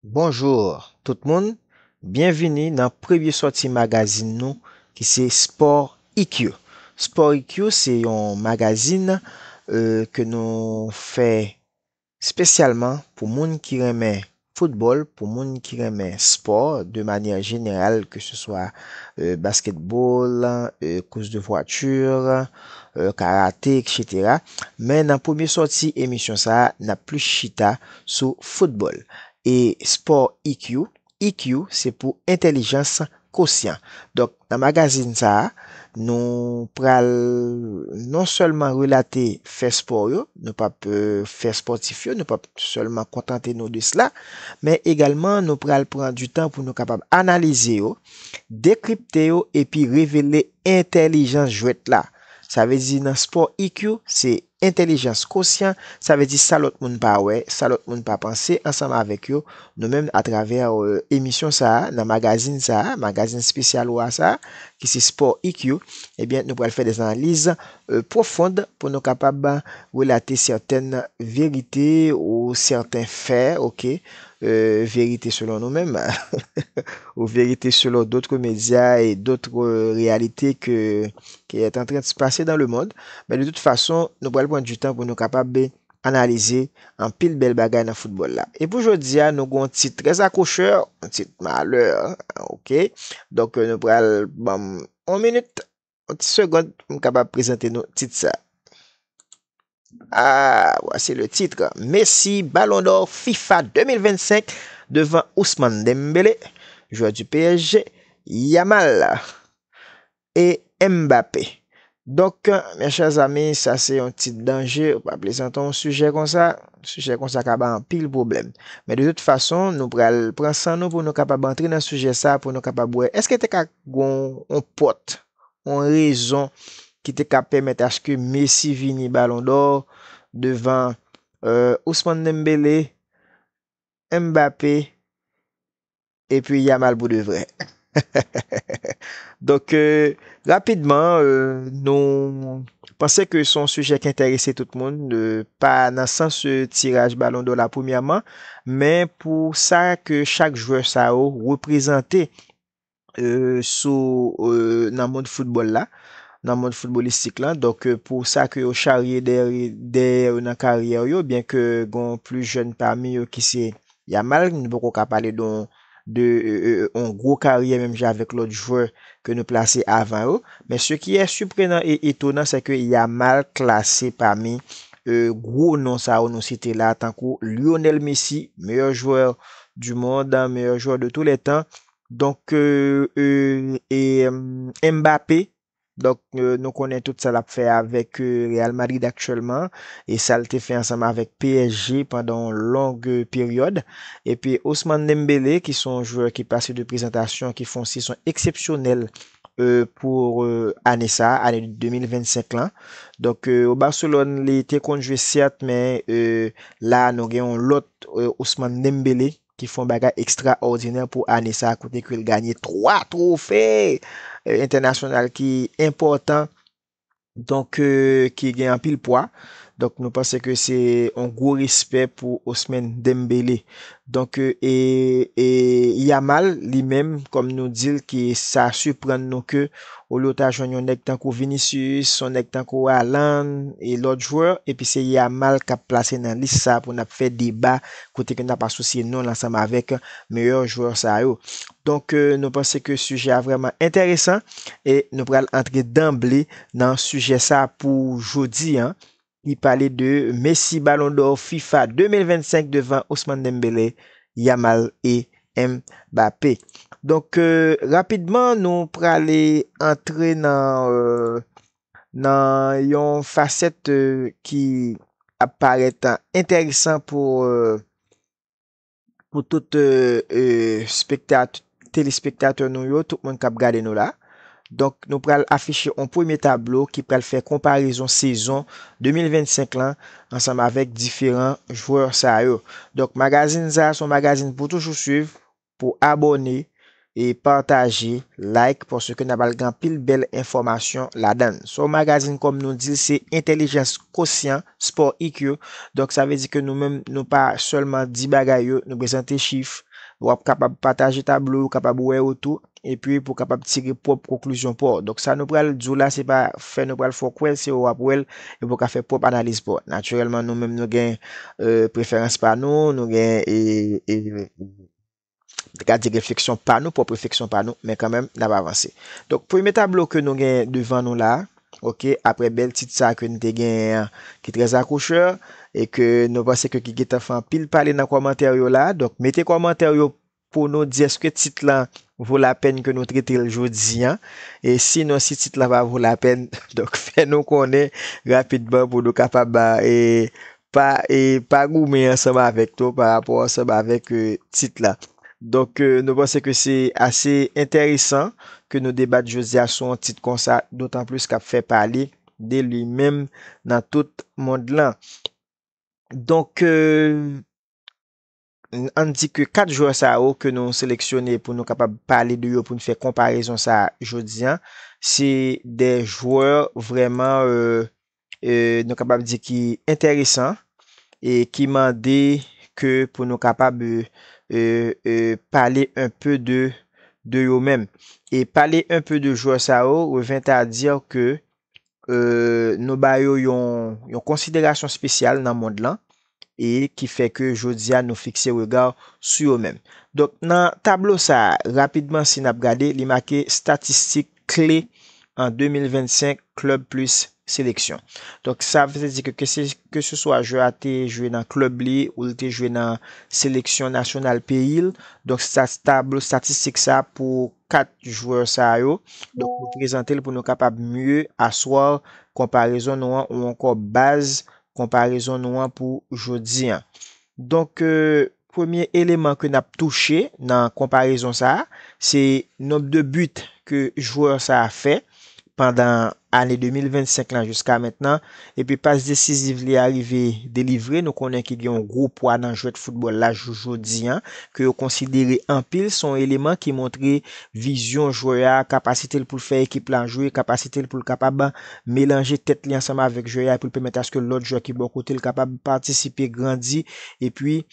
Bonjour tout moun, byenvini nan premye sòti magazin nou ki se Sport IQ. Sport IQ se yon magazin ke nou fè spesyalman pou moun ki renmen football, pou moun ki renmen sport de manyè jeneral ke se swa basketball, course de voiture, karate etc. Men nan premye sòti emisyon sa a n ap plis chita sou foutbòl e spò IQ, IQ se pou entèlijans kosyan. Donk nan magazin sa a nou pral non sèlman relate fè spò yo, nou p ap fè spòtif yo, nou p ap sèlman kontante nou de sla, men egalman nou pral pran di tan pou nou kapab analize yo, dekripte yo epi revele Entèlijans jwèt la, sa vle di nan spò IQ, se entèlijans kosyan, sa vle di sa lòt moun pa wè, sa lòt moun pa panse ansanm avèk yo, nou menm atravè emisyon sa a, nan magazin sa a, magazin spesyal ou a sa a, ki se spò IQ, ebyen nou pral fè des analiz pwofond pou nou kapab relate sèten verite ou sèten fè, ok. verite selon nou menm ou verite selon dotre medya e dotre reyalite ke ki et antren se pase dan le mond men de tout fason nou pral pran du tan pou nou kapab be analize anpil bel bagay nan foutbol la e pou jodi a nou gon yon tit tres akrocheur yon tit maleur ok donk nou pral banm yon minit. Yon ti segond pou m kapab prezante nou tit sa. Ah, voici le titre. Messi, Ballon d'Or FIFA 2025 devan Ousmane Dembélé, joueur du PSG, Yamal et Mbappé. Donk, mes chers amis, sa se yon tit danje, ou pa plezante yon sijè konsa, sijè konsa ka bay anpil pwoblèm. Men de tout fason, nou pral pran san nou pou nou kapab antre nan sijè sa, pou nou kapab wè, èske te ka Gon yon pòt, yon rezon ki te ka pèmèt aske Messi vini Balon dò devan Ousmane Dembele, Mbappé epi Yamal pou de vrè. Donk rapidman nou panse ke son sijè ki enterese tout moun, pa nan sans tiraj Balon dò la premyèman, men pou sa ke chak jwè sa yo reprezante sou nan mond foutbòl la, nan mond foutbolistik lan, donk pou sa ke yo charye dèyè yo nan karyè yo, byen ke gon plis jèn pami yo ki se Yamal, nou poko ka pale de yon gwo karyè menm jan avèk lòt jwè ke nou plase avan yo, men se ki e siprenan e etonan se ke Yamal klase pami gwo non sa yo nou site la tankou Lionel Messi, meyè jwè du mond, meyè jwè de tou lè tan, Donk eeuh Mbappé donk nou konnen tout sa lap fè avèk Real Madrid aktyèlman e sal te fè ansanm avèk psg pandan yon long peryòd epi Ousmane Dembélé ki se yon jwè ki pase de prezantasyon ki fè yon sezon eksepsyonèl pou ane sa ane 2025 lan donk o Barcelone li te konn jwe sèt men la nou gen yon lòt Ousmane Dembélé ki fè yon bagay ekstraòdinè pou ane sa a kote ke l ganye 3 twofe entènasyonal ki enpòtan, donk ki gen anpil pwa. Donk nou panse ke se yon gwo respè pou Osmen Dembele. Donk e Yamal li menm kòm nou di l ke sa siprann nou ke olye w ta jwenn yon nèg tankou Vinicius, yon nèg tankou Haaland e lòt jwè epi se Yamal k ap plase nan lis sa a pou n ap fè deba kote ke n ap asosye non l ansanm avèk meyè jwè sa yo. Donk, nou panse ke sijè a vrèman enteresan e nou pral antre danble nan sijè sa pou jodi an ki pale de Messi Ballon d'Or fifa 2025 devan Ousmane Dembele, Yamal e Mbappé. Donk, rapidman nou prale antre nan Nan yon fasèt ki ap parèt entèresan pou pou tout spektat telespektatè nou yo, tout moun kap gade nou la. Donk nou pral afiche yon premye tablo ki pral fè konparezon sezon 2025 lan ansanm avèk diferan jwè sa yo. Donk magazin sa a se yon magazin pou toujou swiv pou abone e pataje like paske nap al gen anpil bèl enfòmasyon ladann so magazine kòm nou dil se entèlijans kosyan sport ik yo donk sa vle di ke nou menm nou pa sèlman di bagay yo nou prezante chif wap kapab pataje tablo yo kapab wè yo tou epi pou kapab tire pwòp konklizyon paw donk sa nou pral diw la se pa fè nou pral fè w kwèl se ou wap wèl epi pou ka fè pwòp analiz paw natirèlman nou menm nou gen preferans pa nou nou gen Mwen ka di refleksyon pa nou, pwòp refleksyon pa nou, men kanmenm n ap avanse. Donk premye tablo ke nou genyen devan nou la, ok, aprè bèl tit sa ke n te genyen an ki trè akouchè e ke nou panse ke ki gen tan fè anpil pale nan kòmantè yo la, donk mete kòmantè yo pou nou di èske tit lan vo lapèn ke nou trete l jodi an e sinon si tit lan pa vo lapèn donk fè nou konnen rapidman pou nou kapab Pa e pa goumen ansanm avèk to pa rapò ansanm avèk tit la. Donk nou panse ke se ase enteresan ke nou debat jodi a sou yon tit konsa dotan plis kap fè pale de li menm nan tout mond lan. Donk. Ann di ke 4 jwè sa yo ke nou seleksyone pou nou kapab pale de yo pou n fè konparezon sa jodi an, se 2 jwè vrèman nou kapab di ki enteresan e ki mande ke pou nou kapab pale un peu de yo menm. E pale un peu de jwè sa yo revient à dire ke nou ba yo yon konsiderasyon spesyal nan mond lan, e ki fè ke jodi a nou fikse rega sou yo menm. Donk nan tablo sa, rapidman si nap gade, li make statistik kle an 2025 klub plis seleksyon. Donk sa vle di ke ke se swa jwè a te jwe nan klub li ou li te jwe nan seleksyon nasyonal peyi l, donk tablo statistik sa pou 4 jwè sa yo, donk nou prezante l pou nou kapab mye aswa konparezon nou an ou ankò baz konparezon nou an pou jodi an. Donk premye eleman ke n ap touche nan konparezon sa a, se nomb de but ke jwè sa a fè. pandan ane 2025 lan jiska mentnan epi pas desiziv li a rive delivre nou konnen ki gen yon gwo pwa nan jwèt foutbòl la jou jodi an ke yo konsidere anpil se yon eleman ki montre vizyon jwè a, kapasite l pou l fè ekip lan jwe, kapasite l pou l kapab melanje tèt li ansanm avèk jwè a epi l pèmèt aske lòt jwè ki bò kote l kapab patisipe, grandi epi.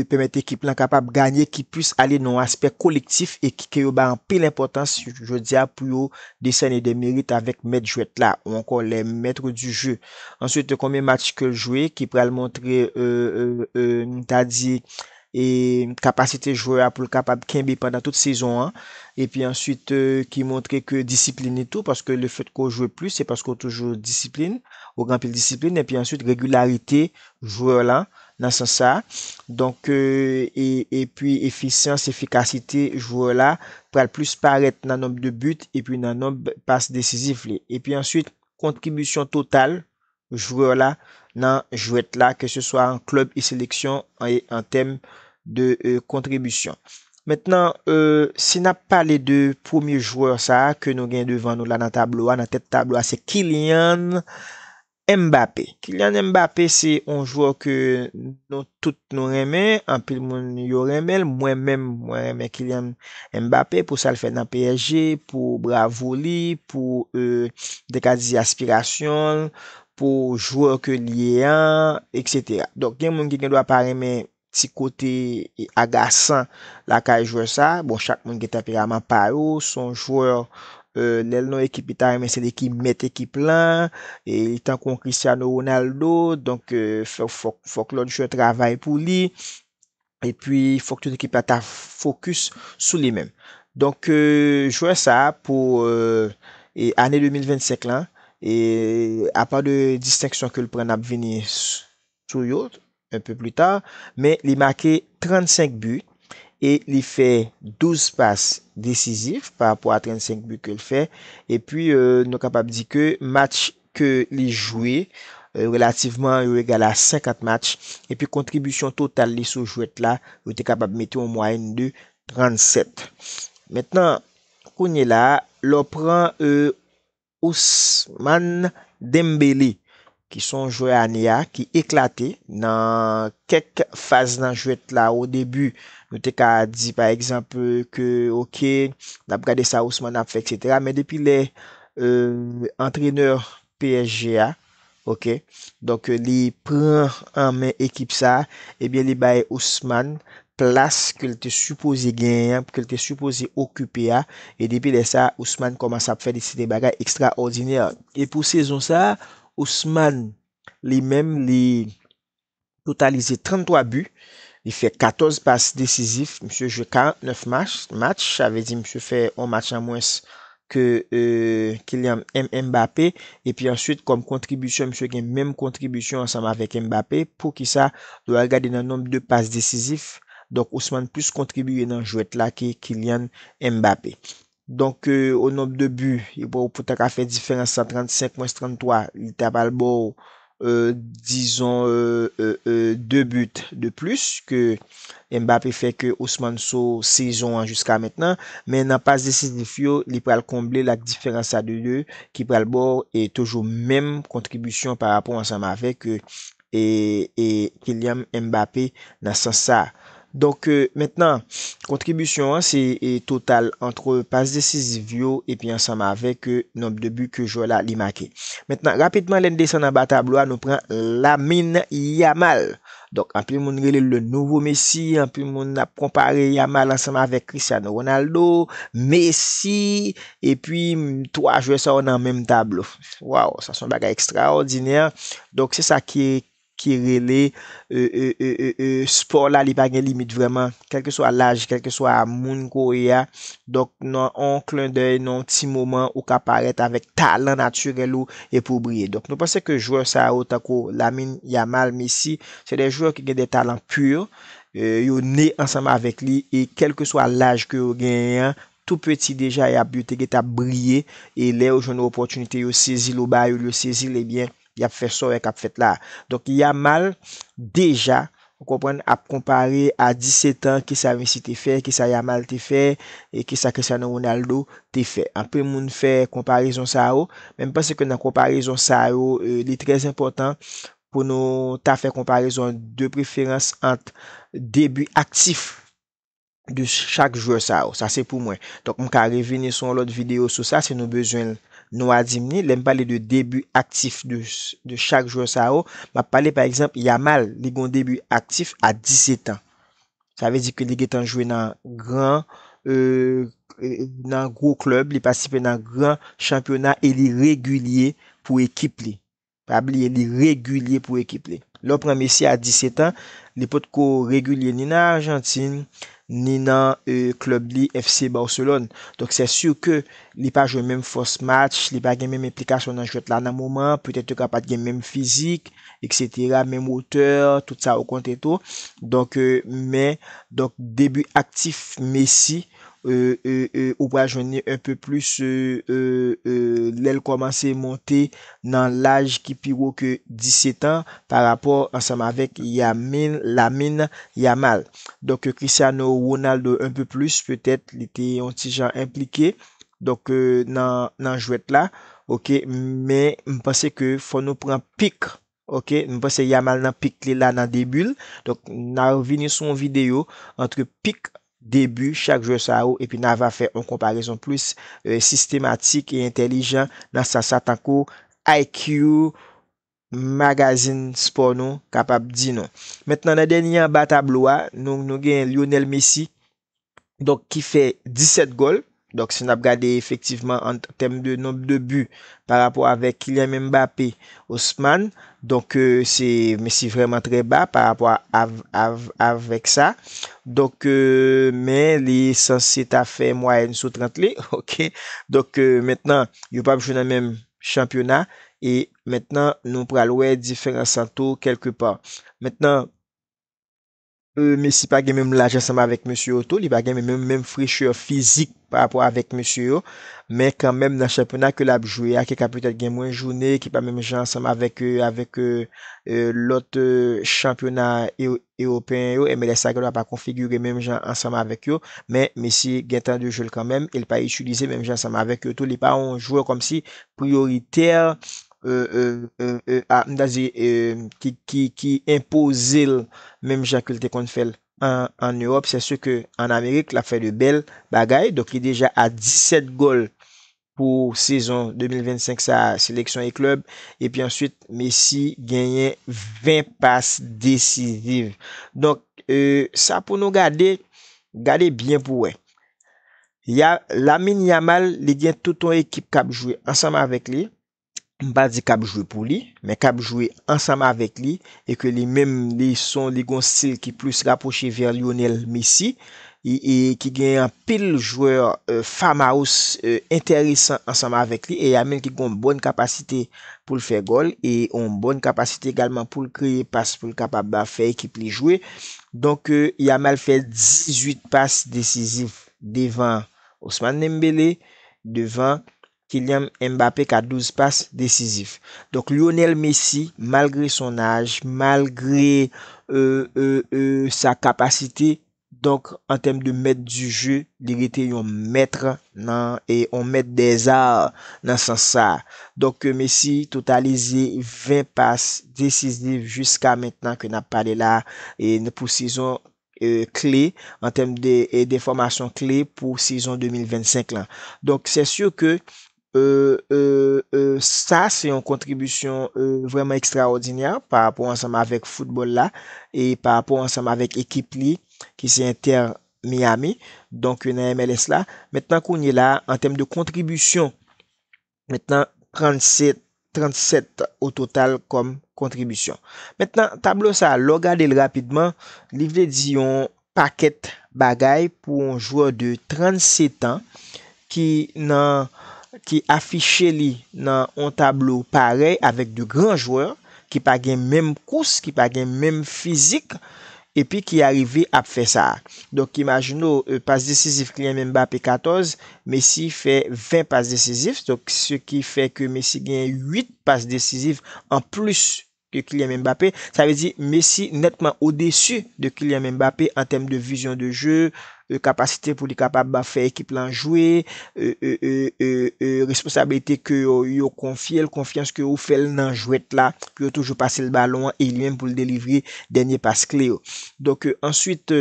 pèmèt ekip lan kapab ganye ki plis ale nan yon aspè kolektif e ki ke yo bay anpil enpòtans jodi a pou yo desène de merit avèk mèt jwèt la ou ankò les maîtres du jeu. Answit konbyen match ke l jwe ki pral montre nou ta di kapasite jwè a pou l kapab kenbe pandan tout sezon an epi answit ki montre ke disiplin li tou paske le fèt ke w jwe plis se paske w toujou disiplin ou gen anpil disiplin epi answit regilarite jwè la nan sans sa a. Donk e epi efisyans, efikasite jwè la pral plis parèt nan nonb de but epi nan nonb pas desizif li. Epi answit kontribisyon total jwè la nan jwèt la ke se swa an klèb e seleksyon e an tèm de kontribisyon. Mentnan si n ap pale de premye jwè sa a ke nou gen devan nou la nan tablo a, nan tèt tablo a se Kylian Mbappé, Kylian Mbappé se yon jwè ke nou tout nou renmen, anpil moun yo renmen l, mwen menm mwen renmen Kylian Mbappé pou sa l fè nan psg, pou bravo li, pou m te ka di aspirasyon l, pou jwè ke l ye an, etc. Donk gen moun ki gen dwa pa renmen Ti kote agasan lakay jwè sa, bon chak moun gen tanperaman pa yo, son jwè lèl nan ekip li ta renmen se li ki mèt ekip lan, li tankou yon Cristiano Ronaldo, donk fòk lòt jwè travay pou li, epi fòk tout ekip la ta fokis sou li menm. Donk jwè sa pou ane 2025 lan, apa de distenksyon kel pran nap vini Trouillot un peu plus tard men li make 35 bi e li fè 12 pas desizif pa rapò a 35 bi ke l fè epi nou kapab di ke match ke li jwe relativman yo egal a 50 match epi kontribisyon total li sou jwèt la yo te kapab mete yon mwayèn de 37 mentnan kounyela lè w pran Ousmane Dembélé ki son jwè ane a ki eklate nan kèk faz nan jwèt la o debi nou te ka di pa egzanp ke ok nap gade sa Ousmane ap fè etc men depi lè antrenè psg a Ok donk li pran an men ekip sa ebyen li bay Ousmane plas ke l te sipoze genyen an ke l te sipoze okipe a e depi lè sa Ousmane kòmanse ap fè de seri de bagay ekstraòdinè e pou sezon sa Ousmane li menm li totalize 33 bi, li fè 14 pas desizif, misye jwe 49 match, sa vle di misye fè yon match an mwens ke Kylian Mbappé, epi answit kòm kontribisyon misye gen menm kontribisyon ansanm avèk Mbappé, poukisa, lè w al gade nan nonb de pas desizif, donk Ousmane plis kontribiye nan jwèt la ke Kylian Mbappé. Donk o nomb de bu e bò pou ta ka fè diferans sa 35 mwens 33 li ta pral ba w dizon 2 but de plis ke Mbappé fè ke Ousmane Sow sezon an jiska mentnan men nan pas desizif yo li pral konble l ak diferans sa de 2 ki pral ba w toujou menm kontribisyon pa rapò ansanm avèk e Kyliam Mbappé nan sans sa. Donk mentnan kontribisyon an se total antre pas desiziv yo epi ansanm avèk nonb de bi ke jwè la li make. Mentnan rapidman lè n desann anba tablo a nou pran Lamine Yamal. Donk anpil moun rele l le nouvo Messi, anpil moun ap konpare Yamal ansanm avèk Cristiano Ronaldo, Messi epi 3 jwè sa yo nan menm tablo. Waw sa son bagay ekstraòdinè donk se sa ki ki rele e spò la li pa gen limit vrèman kelke swa laj kelke swa moun ko ye a donk nan on klen dèy nan on ti moman ou ka parèt avèk talan natirèl ou epi ou briye donk nou panse ke jwè sa yo tankou Lamine Yamal Messi se de jwè ki gen de talan pur yo ne ansanm avèk li e kelke swa laj ke yo genyen an Tou peti deja yap yo te gentan ap briye e lè yo jwenn opòtinite yo sezil ou ba yo yo sezil ebyen yap fè sa wè kap fèt la donk Yamal deja ou konprann ap konpare a 17 ans kisa Messi te fè kisa Yamal te fè e kisa Cristiano Ronaldo te fè anpil moun fè konparezon sa yo men mpanse ke nan konparezon sa yo li trè enpòtan pou nou ta fè konparezon de preferans ant debi aktif. de chak jwè sa yo. Sa se pou mwen. Donk m ka revini sou yon lòt videyo sou sa si nou bezwen l. Nou a di m ni. Lè m pale de debi aktif de chak jwè sa yo, m ap pale pa egzanp Yamal, li gen yon debi aktif a 10 zetan. Sa vle di ke li gentan jwe nan gran nan gwo klèb, li patisipe nan gran chanpyona e li regilye pou ekip li. Pa bliye li regilye pou ekip li. Lè w pran Messi a 17 an, li potko regilye ni nan Arjantin, ni nan klèb li FC Barcelone. Donk sè sur ke li pa jwe menm fòs match, li pa gen menm enplikasyon nan jwèt la nan moman an, petèt yo ka pat gen menm fizik etc, menm wotè, tout sa yo konte tou. Donk men donk debi aktif Messi ou pral jwenn li un peu plus lèl kòmanse monte nan laj ki pi wo ke 17 ans pa rapò ansanm avèk Yamil, Lamine Yamal. Donk Cristiano Ronaldo un peu plus petèt li te yon ti jan enplike donk nan jwèt la ok men m panse ke fò nou pran pic Ok m panse Yamal nan pik li la nan debut l donk na vini sou yon video antre pik debut chak jwè sa yo epi na va fè yon konparezon plis sistematik e entèlijan nan sans sa tankou IQ magazin spò nou kapab di nou. Mentnan nan dènye anba tablo a nou genyen Lionel Messi donk ki fè 17 gòl, donk si nap gade efektivman an tèm de nomb de but pa rapò avèk Kylian Mbappé, Ousmane, donk se mesye vrèman trè ba pa rapò avèk sa, donk men li sanse ta fè mwayèn sou 30 li, ok, donk mentnan yo pap jwe nan menm chanpyona e mentnan nou pral wè diferans lan tou kèlke pa. Mentnan. Messi pa gen menm laj ansanm avèk mesye yo tou, li pa gen menm menm frechè fizik pa rapò avèk mesye yo, men kanmenm nan chanpyona ke lap jwe a, ke ka petèt gen mwen joune, ki pa menm jan ansanm avèk avèk lòt chanpyona ewopeyen yo, MLS la gendwa pa konfigire menm jan ansanm avèk yo, men Messi gen tan de jwel kanmenm, el pa itilize menm jan ansanm avèk yo tou, li pa yon jwè kòmsi priyoritè e e e e a m ta di e ki ki ki enpoze l menm jan ke l te konn fè l an an Ewòp sè si ke an Amerik l ap fè de bèl bagay donk li deja a 17 gòl pou sezon 2025 sa a seleksyon e klèb epi answit Messi genyen 20 pas desiziv donk e sa pou nou gade gade byen pou wè Ya, Lamine Yamal li gen tout yon ekip k ap jwe ansanm avèk li, m pa di k ap jwe pou li, men k ap jwe ansanm avèk li e ke li menm li son li gen yon stil ki plis rapwoche vè Lionel Messi e e ki gen anpil jwè famous enteresan ansanm avèk li e Yamil ki gen yon bòn kapasite pou l fè gòl e yon bòn kapasite egalman pou l kreye pas pou l kapab fè ekip li jwe donk Yamal fè 18 pas desiziv. devan Ousmane Dembélé, devan Kylian Mbappé ka 12 pas desizif. Donk Lionel Messi malgre son aj, malgre sa kapasite, donk an tèm de mèt di je, li rete yon mèt nan, yon mèt dè zar nan sans sa. Donk Messi totalize 20 pas desizif jiska mentnan ke nap pale la pou sezon kle an tèm de denfòmasyon kle pou sezon 2025 lan. Donk sè sur ke sa se yon kontribisyon vrèman ekstraòdinè pa rapò ansanm avèk foutbòl la e pa rapò ansanm avèk ekip li ki se Inter Miami donk nan MLS la. Mentnan kounyela an tèm de kontribisyon Mentnan, 37 37 o total kòm kontribisyon. Mentnan, tablo sa a, lè w gade l rapidman, li vle di yon pakèt bagay pou yon jwè de 37 an ki nan ki afiche li nan yon tablo parèy avèk de gran jwè ki pa gen menm kous, ki pa gen menm fizik Epi ki arive ap fè sa. Donk imajine w pas desizif Kylian Mbappé 14, Messi fè 20 pas desizif, donk se ki fè ke Messi genyen 8 pas desizif an plis ke Kylian Mbappé, sa vle di Messi nètman odesu de Kylian Mbappé an tèm de vizyon de jeu, kapasite pou li kapab fè ekip lan jwe, responsabilite ke yo konfye l, konfyans ke ou fè l nan jwèt la, pou yo toujou pase l balon an e li menm pou l delivre dènye pas kle yo. Donk, answit,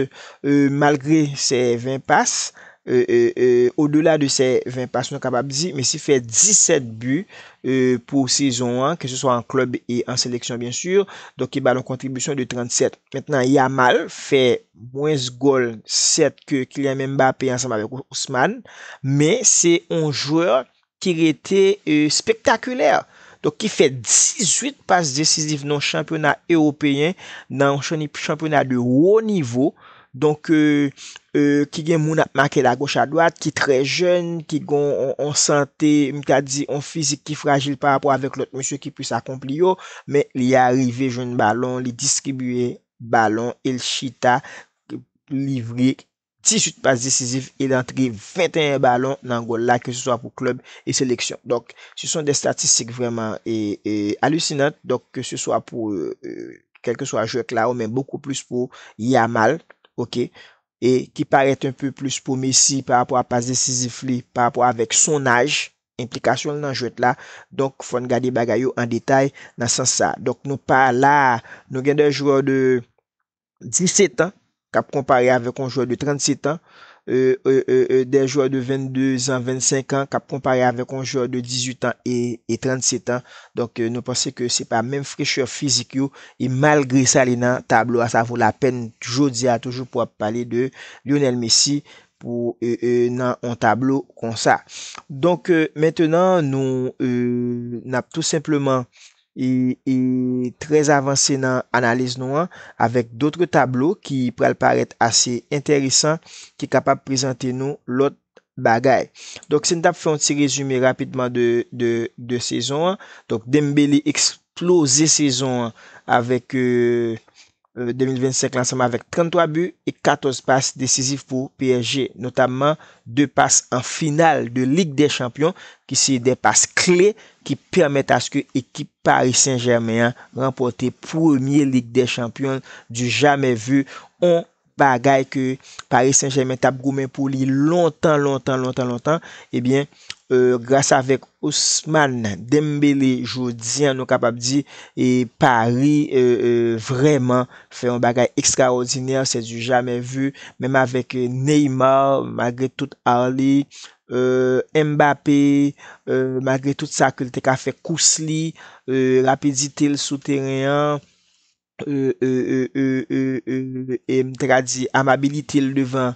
malgre se 20 pas, o dela de se 20 pas nou kapab di Messi fè 17 bi pou sezon an, ke se swa an klèb e an seleksyon byen sur, donk ki ba l yon kontribisyon de 37. Mentnan Yamal fè. Mwens gòl sèt ke Kylian Mbappé ansanm avèk Ousmane, men se yon jwè ki rete spektakilè, donk ki fè 18 pas desiziv nan yon chanpyona ewopeyen, nan yon chanpyona de wo nivo, donk ki gen moun ap make l agoch adwat, ki trè jèn, ki gen yon sante, m ta di yon fizik ki frajil parapò avèk lòt mesye ki plis akonpli yo, men li arive jwenn balon, li distribiye balon e l chita livre 18 pas desizif e l antre 21 balon nan gòl la ke se swa pou klèb e seleksyon. Donk se son de statistik vrèman alusinant donk ke se swa pou kèlke swa jwè Claro men bokou plis pou Yamal ok e ki parèt un peu plis pou Messi pa rapò a pas desizif li pa rapò avèk son aj enplikasyon l nan jwèt la, donk fò n gade bagay yo an detay nan sans sa. Donk nou pa la a, nou gen de jwè de 17 an k ap konpare avèk yon jwè de 37 an, de jwè de 22 zan, 25 an k ap konpare avèk yon jwè de 18 an e 37 an. Donk nou panse ke se pa menm frechè fizik yo e malgre sa li nan tablo a sa vo lapèn jodi a toujou pou ap pale de Lionel Messi Pou nan on tablo konsa. Donk mentenan nou nap tou senpleman trè avanse nan analiz nou an avèk dotre tablo ki pral parèt ase enteresan ki kapab prezante nou lòt bagay. Donk si n tap fè on ti rezime rapidman de sezon an, donk Dembele eksploze sezon an avèk. 2025 la ansanm avèk 33 bi e 14 pas desizif pou psg, notamman 2 pas an final de Lig dè Chanpyon ki se 2 pas kle ki pèmèt aske ekip Paris Saint-Germain an ranpòte premye Lig dè Chanpyon du jamais vu, on bagay ke Paris Saint-Germain tap goumen pou li lontan lontan lontan lontan, ebyen. Gras avèk Ousmane Dembélé jodi an nou kapab di Paris vrèman fè yon bagay ekstraòdinè, sè di jamè vi, menm avèk Neymar malgre tout ar li, Mbappé malgre tout sa ke li te ka fè kous li, rapidite l sou teren an. e e e e e e e m ta ka di amabilite l devan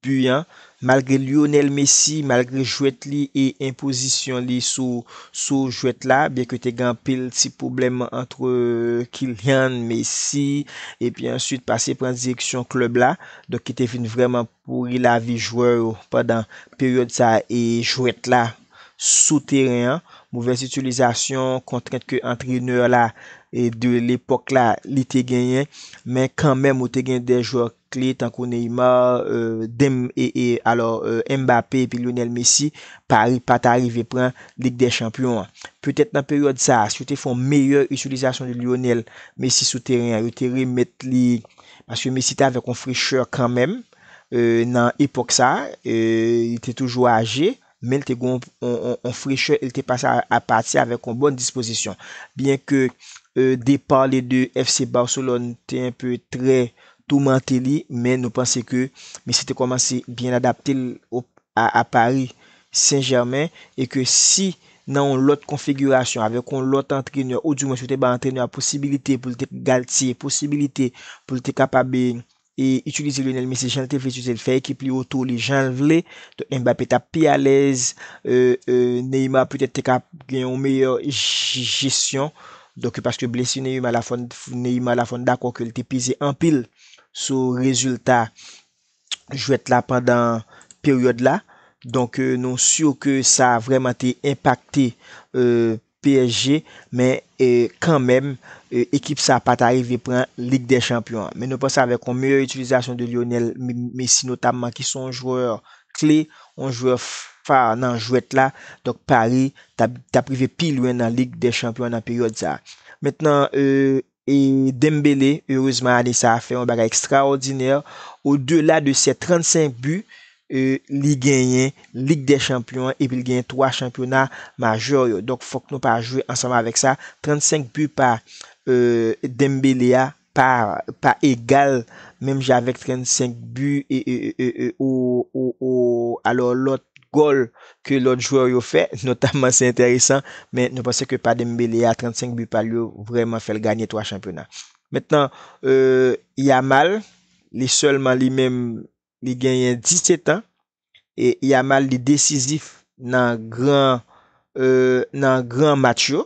bi an malgre Lionel Messi malgre jwèt li e enpozisyon li sou sou jwèt la byen ke te gen anpil ti pwoblèm antre Kylian, Messi epi answit pase pran direksyon klèb la donk ki te vin vrèman Pouri lavi jwè yo pandan peryòd sa e jwèt la sou teren an, movèz itilizasyon kontrent ke antrenè la de lepòk la li te genyen, men kanmenm ou te gen de jwè kle tankou Neymar, Dem e e alò Mbappé epi Lionel Messi, Paris pa ta rive pran Lig dè Chanpyon an. Petèt nan peryòd sa a, si yo te fè yon meyè itilizasyon de Lionel Messi sou teren an, yo te remèt li Paske Messi te avèk yon frechè kanmenm nan epòk sa, li te toujou aje, men li te gen yon frechè e li te pase a pati avèk yon bòn dispozisyon. Byen ke depar li de FC Barcelone te enpe trè toumante li, men nou panse ke Messi te kòmanse byen adapte l a Paris. Sen Jèmen e ke si nan yon lòt konfigirasyon, avèk yon lòt antrenè, ou di mwens ou te bay antrenè a posibilite pou l te galtie, posibilite pou l te kapab e itilize Lionel Messi jan l te vle itilize l, fè ekip li otou li jan l vle, donk Mbappé t ap pi alèz, e Neymar petèt te ka gen yon meyè jesyon, donk e paske blesi Neymar la fòn Neymar la fòn dakò ke l te peze anpil sou rezilta jwèt la pandan peryòd la. Donk nou sur ke sa vrèman te enpakte psg men kanmenm ekip sa pat arive pran lig dè chanpyon an. Men nou panse avèk yon meyè itilizasyon de Lionel Messi notamman ki se yon jwè kle, yon jwè far nan jwèt la, donk Paris tap rive pi lwen nan lig dè chanpyon an nan peryòd sa. Mentnan E Dembélé, erezman ane sa a fè yon bagay ekstraòdinè, o dela de sè 35 bi, li genyen Lig dè Chanpyon an epi li genyen 3 chanpyona majè yo. Donk fòk nou pa jwe ansanm avèk sa, 35 bi pa Dembélé a pa egal menm jan avèk 35 bi ou alò lòt gòl ke lòt jwè yo fè, notamman se enteresan, men nou panse ke pa Dembele a 35 bi pal yo vrèman fèl ganye 3 chanpyona. Mentnan Yamal li sèlman li menm li genyen 17 an e Yamal li desizif nan gran nan gran match yo.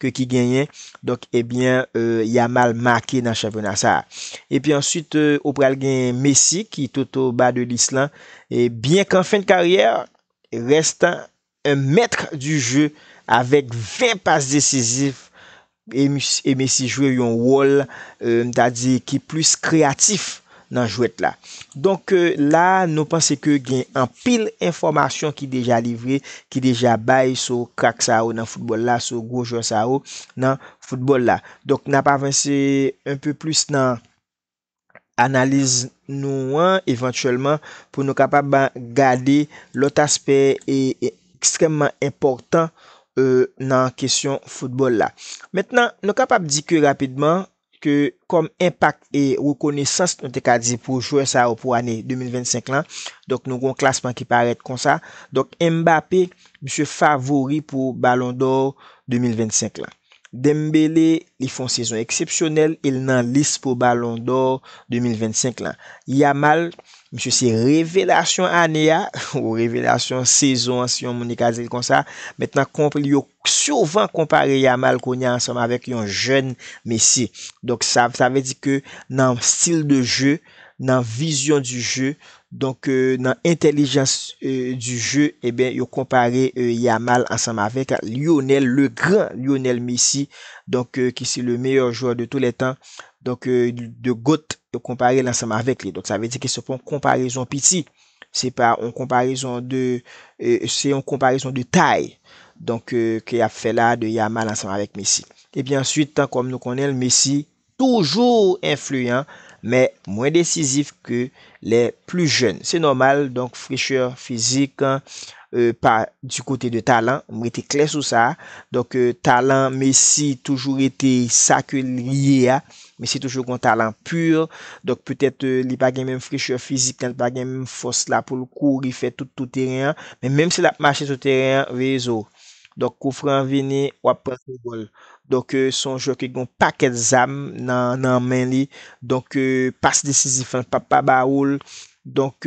ke ki genyen donk ebyen Yamal make nan chanpyona sa epi answit ou pral gen Messi ki tout o ba de lis lan e byen kan fen de karyè rèst an un mètr di je avèk 20 pas desizif e Messi jwe yon wòl m ta di ki plis kreyatif nan jwèt la. Donk la a nou panse ke gen anpil enfòmasyon ki deja livre, ki deja bay sou krak sa yo nan foutbòl la, sou gwo jwè sa yo nan foutbòl la. Donk n ap avanse un peu plus nan analiz nou an evantyèlman pou nou kapab gade lòt aspè ekstrèmman enpòtan nan kesyon foutbòl la. Mentnan nou kapab di ke rapidman ke kòm enpak e rekonesans nou te ka di pou jwè sa yo pou ane 2025 lan, donk nou gen yon klasman ki parèt konsa, donk Mbappé misye favori pou balon dò 2025 lan. Dembélé li fè yon sezon eksepsyonèl e l nan lis pou balon dò 2025 lan. Yamal misye se revelasyon ane a, ou revelasyon sezon an si yon moun li ka di l konsa, mèt nan konp li yo souvan konpare Yamal kounye a ansanm avèk yon jèn Messi. Donk sa sa vle di ke nan stil de jeu, nan vision du jeu, donk nan entèlijans du jeu eben yo konpare Yamal ansanm avèk Lionel le grand Lionel Messi donk ki se le meilleur joueur de tous les temps donk the goat yo konpare l ansanm avèk li donk sa vle di ke se pa yon konparezon piti. Se pa yon konparezon de, se yon konparezon de tay, donk ke y ap fè la de Yamal ansanm avèk Messi. Epi answit, kòm nou konnen l, Messi toujou enfliyan, men mwen desizif ke lè pli jèn. Se nòmal, donk frechè fizik pa di kote de talan, m rete klè sou sa. Donk talan Messi toujou rete sa ke l ye a. Messi toujou gon talan pur, donk petèt li pa gen menm frechè fizik lan, li pa gen menm fòs la pou l kouri fè tout tou teren an, men menm si l ap mache sou teren an, veye zo w. Donk kou fran an vini, w ap pran kou gòl. Donk se yon jwè ki gen yon pakèt zam nan men li, donk pas desizif lan l p ap pa ba ou l, Donk,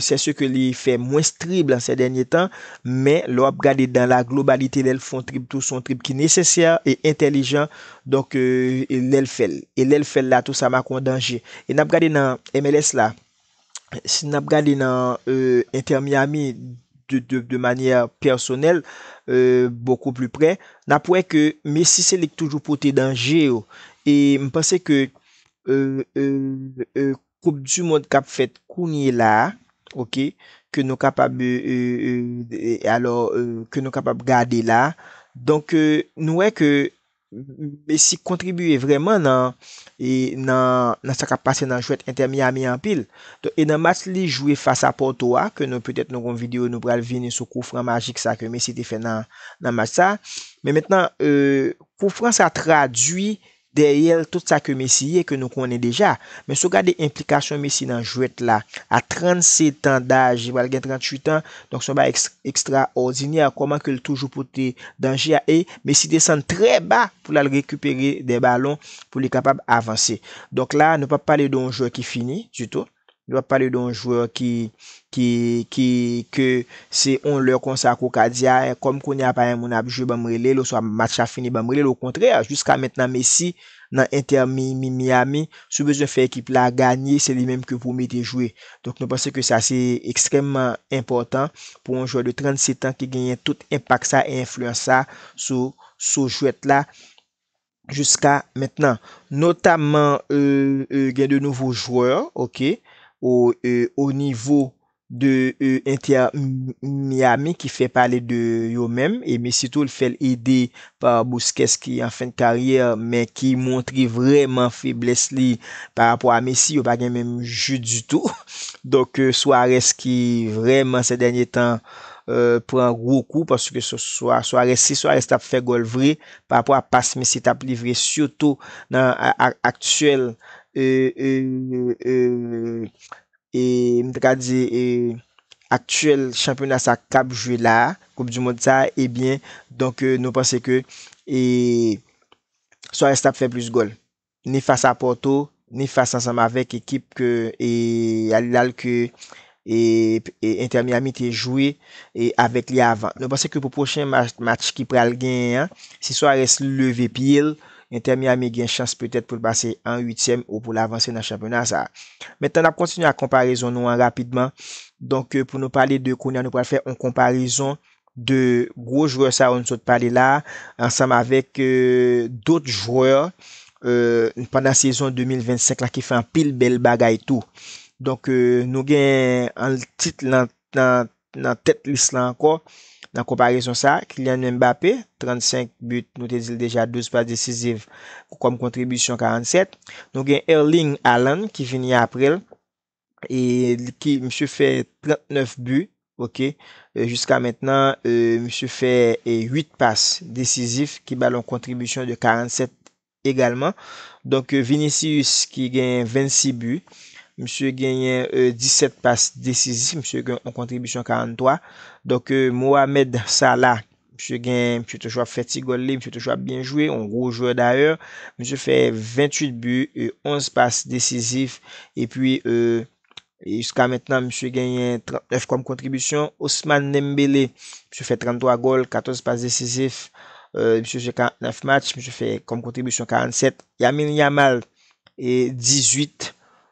sè se ke li fè mwens trib lan sè dènye tan, men lè w ap gade dan la globalite lè l fon trib tou son trib ki nesesè e entèlijan, donk lè l fè l. E lè l fè l la tou sa make yon danje. E n ap gade nan MLS la, si n ap gade nan Inter Miami de manyè pèsonèl, bokou pli prè, n ap wè ke Messi se li k toujou pote danje yo. E m panse ke Koup du mond kap fèt kounye la a ok ke nou kapab alò ke nou kapab gade la a donk nou wè ke Messi kontribiye vrèman nan nan sa kap pase nan jwèt Inter Miami a anpil donk e nan match li jwe fas a Porto a ke nou petèt nou gon video nou pral vini sou kou fran majik sa ke Messi te fè nan nan match sa men mentnan kou fran sa tradui Dèyè l tout sa ke Messi ye ke nou konnen deja. Men si w gade enplikasyon Messi nan jwèt la a 37 an daj, li pral gen 38 an, donk se yon bagay ekstraòdinè kòman ke l toujou pote danje a e Messi desann trè ba pou l al rekipere dè balon pou li kapab avanse. Donk la nou pa pale de yon jwè ki fini ditou. Yo ap pale de yon jwè ki ki ki ke se yon lè konsa ke w ka di a kòm kounye a pa gen moun ap jwe banm rele l oswa match la fini banm rele l okontrè jiska mentnan Messi nan entè mi mi Miami si w bezwen fè ekip la ganye se li menm ke pou w mete jwe donk nou panse ke sa se ekstrèmman enpòtan pou yon jwè de 37 an ki genyen tout enpak sa e enfliyans sa sou sou jwèt la. jiska mentnan. Notamman gen de nouvo jwè ok o nivo de Inter Miami ki fè pale de yo menm e Messi tou l fèl ede pa Busquets ki an fen de karyè men ki montre vrèman feblès li pa rapò a Messi yo pa gen menm je ditou. Donk Suarez ki vrèman sè dènye tan pran gwo kou paske Suarez si Suarez tap fè gòl vre pa rapò a pas misye tap livre sitou nan aktyèl m ta ka di aktyèl chanpyona sa kap jwe la a, koup di mond sa a ebyen donk nou panse ke Suarez tap fè plis gòl. ni fas a Porto, ni fas ansanm avèk ekip ke Al Hilal ke Inter Miami te jwe avèk li avan. Nou panse ke pou pwochen match ki pral genyen an, si Suarez leve pye l, Inter Miami gen chans petèt pou l pase an uityèm ou pou l avanse nan chanpyona sa a. Mentnan n ap kontinye ak konparezon nou an rapidman. Donk pou nou pale de kounye a nou pral fè yon konparezon 2 gwo jwè sa yo nou sot pale la a ansanm avèk dot jwè pandan sezon 2025 la ki fè anpil bèl bagay tou. Donk nou gen an tit lan nan tèt lis lan ankò nan konparezon sa a, Kylian Mbappé, 35 but, nou te di l deja 12 pas desiziv kòm kontribisyon 47. Nou gen Erling Haaland ki vini apre l e ki misye fè 39 bi ok jiska mentnan misye fè 8 pas desizif ki ba l yon kontribisyon de 47 egalman donk Vinicius ki genyen 26 bi misye genyen 17 pas desizif misye gen yon kontribisyon 43 donk Mohamed Salah Misye gen, misye toujou ap fè ti gòl li, misye toujou ap byen jwe, yon gwo jwè dayè. Misye fè 28 bi, 11 pas desizif, epi jiska mentnan misye genyen 39 kòm kontribisyon. Ousmane Dembele, misye fè 33 gòl, 14 pas desizif, misye jwe 49 match, misye fè kòm kontribisyon 47. Yamil Yamal, 18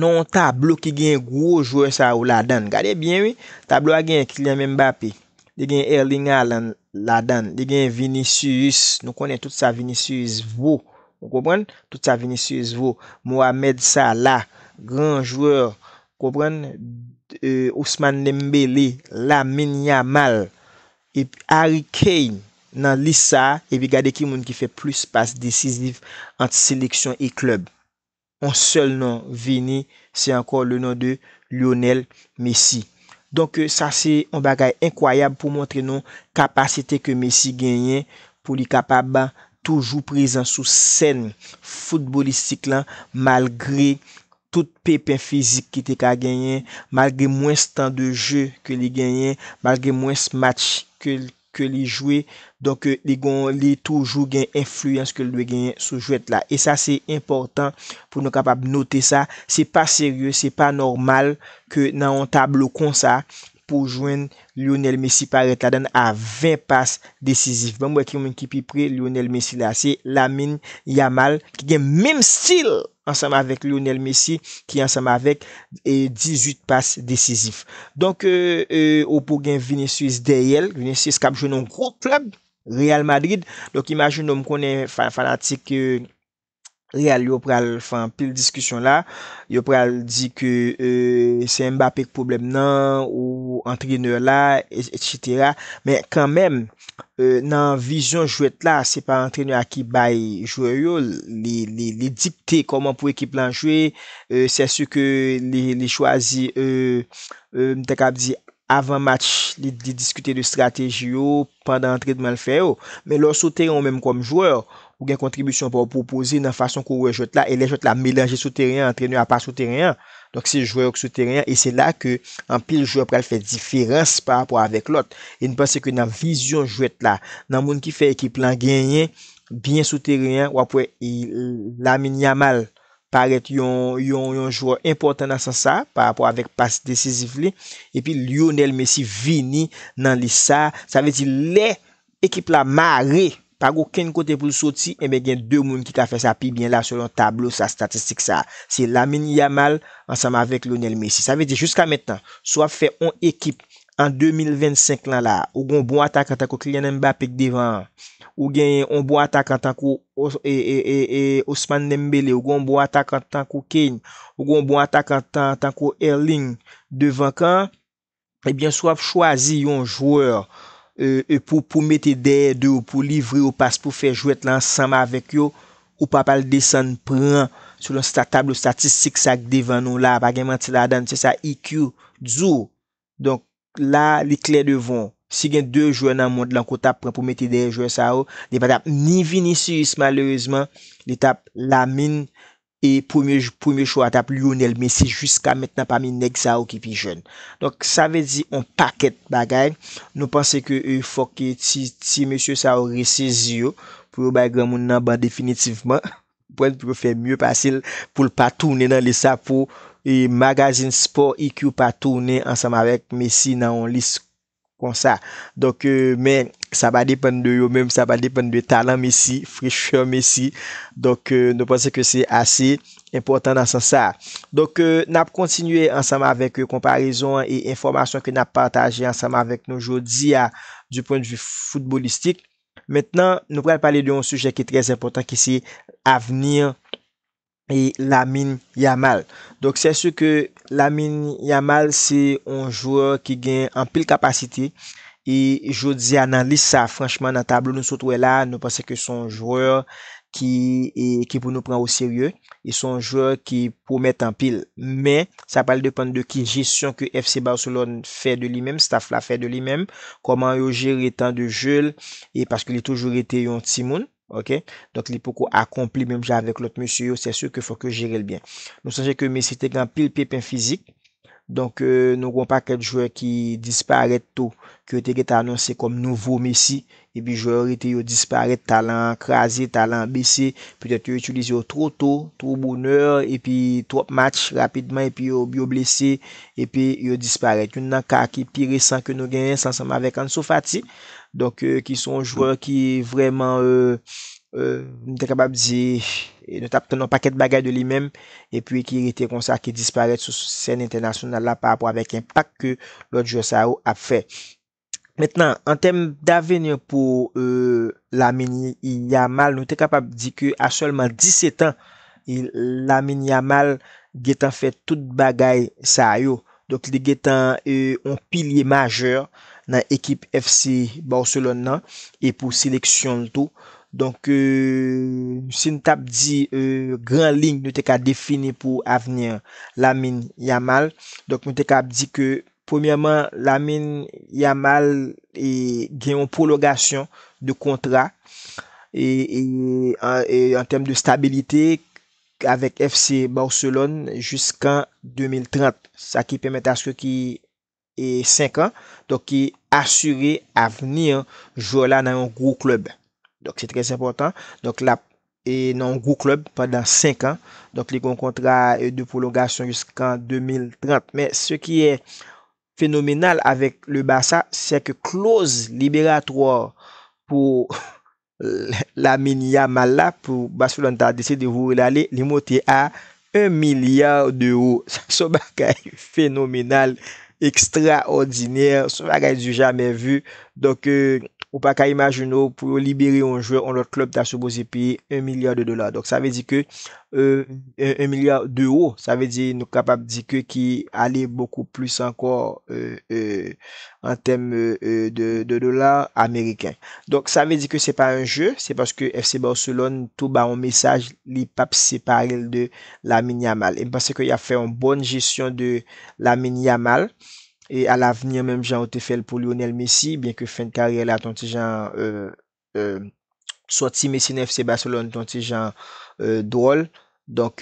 nan yon tablo ki genyen gwo jwè sa yo ladan l. Gade byen wi, tablo a genyen Kylian Mbappé, li genyen Erling Haaland ladan l, li genyen Vinicius, nou konnen tout sa Vinicius vo, ou konprann, tout sa Vinicius vo, Mohamed Salah, gran jwè, konprann, Ousmane Dembélé, Lamine Yamal, epi Harry Kane nan lis sa a, epi gade ki moun ki fè plis pas desiziv ant seleksyon e klèb. on sèl non vini se ankò le non de Lionel Messi. Donk sa se on bagay enkwayab pou montre nou kapasite ke Messi genyen pou li kapab toujou prezan sou sèn foutbolistik lan malgre tout pepen fizik ki te ka genyen, malgre mwens tan de je ke li genyen, malgre mwens match ke ke li jwe donk li gon li toujou gen enfliyans ke li dwe genyen sou jwèt la e sa se enpòtan pou nou kapab note sa se pa serye se pa nòmal ke nan yon tablo konsa pou jwenn Lionel Messi parèt ladann a 20 pas desizif banm wè ki moun ki pi pre Lionel Messi la se Lamine Yamal ki gen menm stil ansanm avèk Lionel Messi ki ansanm avèk 18 pas desizif. Donk ou pou gen Vinicius dèyè l, Vinicius kap jwe nan gwo klèb Real Madrid, donk imajine w m konnen fanatik Real yo pral fè anpil diskisyon la, yo pral di ke se Mbappé k pwoblèm nan ou antrenè la, etc. Men kanmenm. Nan vizyon jwèt la, se pa antrenè a ki bay jwè yo l, li dikte kòman pou ekip lan jwe, sè si ke li chwazi, m ta kab di, avan match li diskite de strateji yo, pandan antrenman l fè yo. Men lè w sou teren ou menm kòm jwè, ou gen kontribisyon pa w pou w poze nan fason ke w wè jwèt la, e lè jwèt la melanje sou teren an, antrenè a pa sou teren an, Donk se jwè yo ki sou teren an e se la ke anpil jwè pral fè diferans pa rapò avèk lòt. E m panse ke nan vizyon jwèt la, nan moun ki fè ekip lan genyen, byen sou teren an, w ap wè Lamine Yamal parèt yon yon jwè enpòtan nan sans sa pa rapò avèk pas desizif li. Epi Lionel Messi vini nan lis sa. Sa vle di lè Ekip la mare! Pa gen okenn kote pou l soti, enben gen 2 moun ki ka fè sa pi byen la selon tablo sa statistik sa. Se Lamine Yamal ansanm avèk Lionel Messi. Sa vle di jiska mentnan, si w ap fè on ekip an 2025 lan la, ou gen on bon atakan tankou Kylian Mbappé k devan an, ou genyen on bon atakan tankou Ousmane Dembélé, ou gen on bon atakan tankou Kane, ou gen on bon atakan tankou Erling devan kan an, ebyen si wap chwazi yon jwè pou mete dèyè de yo pou livre yo pas pou fè jwèt la ansanm avèk yo, ou pap al desann pran selon sa tablo statistik sa ki devan nou la, pa gen manti ladann, se sa IQ di w. Donk, la li klè devan w. Si gen 2 jwè nan mond lan ke w tap pran pou mete dèyè jwè sa yo, li pa tap ni Vinicius malerezman, li tap Lamine E premye jou premye chwa a t ap Lionel Messi jiska mentnan pami nèg sa yo ki pi jèn. Donk sa vle di on pakèt bagay nou panse ke fòk ti ti mesye sa yo resezi yo pou yo bay granmoun nan ban definitivman pwen pou yo fè mye pase l pou l pa tounen nan lis sa pou magazin spò IQ pa tounen ansanm avèk Messi nan on lis konsa donk men sa pa depann de yo menm sa pa depann de talan Messi, frechè Messi donk nou panse ke se ase enpòtan nan sans sa donk n ap kontinye ansanm avèk konparezon an e enfòmasyon ke n ap pataje ansanm avèk nou jodi a di pwen de vi foutbolistik mentnan nou pral pale de yon sijè ki trè enpòtan ki se avni Lamine Yamal. Donk sè su ke Lamine Yamal se yon jwè ki gen anpil kapasite e jodi a nan lis sa franchman nan tablo nou sot wè la nou panse ke son jwè ki ki pou nou pran o serye e son jwè ki pwomèt anpil. Men sa pral depann de ki jesyon ke FC Barcelone fè de li menm, staff la fè de li menm, kòman yo jere tan de je l e paske li toujou rete yon timoun. ok donk li poko akonpli menm jan avèk lòt mesye yo sè su ke fòk yo jerel byen nou sonje ke Messi te gen anpil pepen fizik donk nou gen yon pakèt jwè ki disparèt tou ke yo te gen tan anonse kòm nouvo Messi epi jwè yo rete yo disparèt talan an kraze talan an bese petèt yo itilize yo two to two bonè epi twòp match rapidman epi yo yo blese epi yo disparèt youn nan ka ki pi resan ke nou genyen se ansanm avèk Ansu Fati. Donk ki se yon jwè ki vrèman m ta kapab di nou t ap tann yon pakèt bagay de li menm epi ki rete konsa ki disparèt sou sèn entènasyonal la parapò avèk enpak ke lòt jwè sa yo ap fè. Mentnan an tèm daveni pou Lamine Yamal nou te kapab di ke a sèlman 17 an Lamine Yamal gentan fè tout bagay sa yo Donk li gentan yon pilye majè nan ekip FC Barcelone nan e pou seleksyon l tou. Donk si n t ap di gran liy nou te ka defini pou avni Lamine Yamal, donk nou te ka ap di ke premyèman Lamine Yamal gen yon pwolongasyon de kontra e an tèm de stabilite avèk FC Barcelone jiskan 2030, sa ki pèmèt aske ki 5 an, donk ki asire avni jwè la nan yon gwo klèb. Donk se trè enpòtan, donk l ap nan yon gwo klèb pandan 5 an, donk li gen yon kontra de pwolongasyon jiskan 2030. Men se ki e fenomenal avèk le Barça, se ke kloz liberatwa pou Lamine Yamal la pou Barcelone ta deside voye l ale, li monte a 1 milliard d'euro. Sa se yon bagay fenomenal, ekstraòdinè, se yon bagay du jamais vu. Donk, ou pa ka imajine w pou yo libere yon jwè yon lòt klèb ta sipoze peye 1 milliard de dollars. Donk, sa vle di ke 1 milya dewo, sa vle di nou kapab di ke ki ale bokou plis ankò an tèm de dola ameriken. Donk sa vle di ke se pa yon je, se paske FC Barcelone tou ba yon mesaj li p ap separe l de Lamine Yamal. E m panse ke y ap fè yon bòn jesyon de Lamine Yamal e alavni menm jan yo te fè l pou Lionel Messi, byenke fen karyè l la t on ti jan sòti Messi nan FC Barcelone t yon ti jan dwòl, donk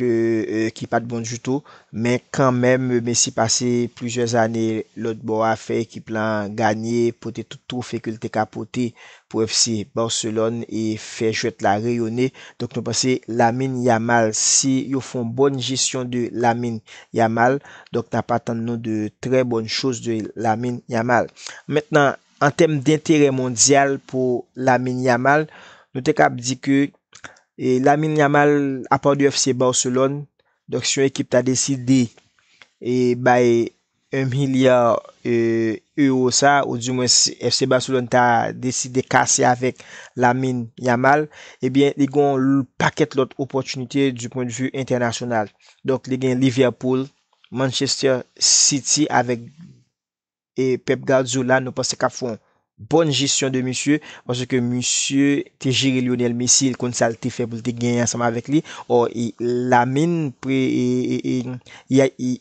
ki pat bon ditou, men kanmenm Messi pase plizyè zane lòt bò a fè ekip lan ganye, pote tout twofe ke l te ka pote pou FC Barcelone e fè jwèt la reyone, donk nou panse Lamine Yamal si yo fè yon bòn jesyon de Lamine Yamal donk n ap atann nou de trè bòn choz de Lamine Yamal. Mentnan An tèm denterè mondyal pou Lamine Yamal, nou te kab di ke Lamine Yamal a part du FC Barcelone, donk si yon ekip ta deside bay 1 milliard euro sa, ou di mwens FC Barcelone ta deside kase avèk Lamine Yamal, ebyen li gen yon pakèt lòt opòtinite du pwen de vue entènasyonal. Donk li gen Liverpool, Manchester City avèk e Pep Guardiola nou panse kap fon bon jesyon de misye paske ke misye te jere Lionel Messi el konn sal te fè poul te genyen ansanm avek li or Lamine pre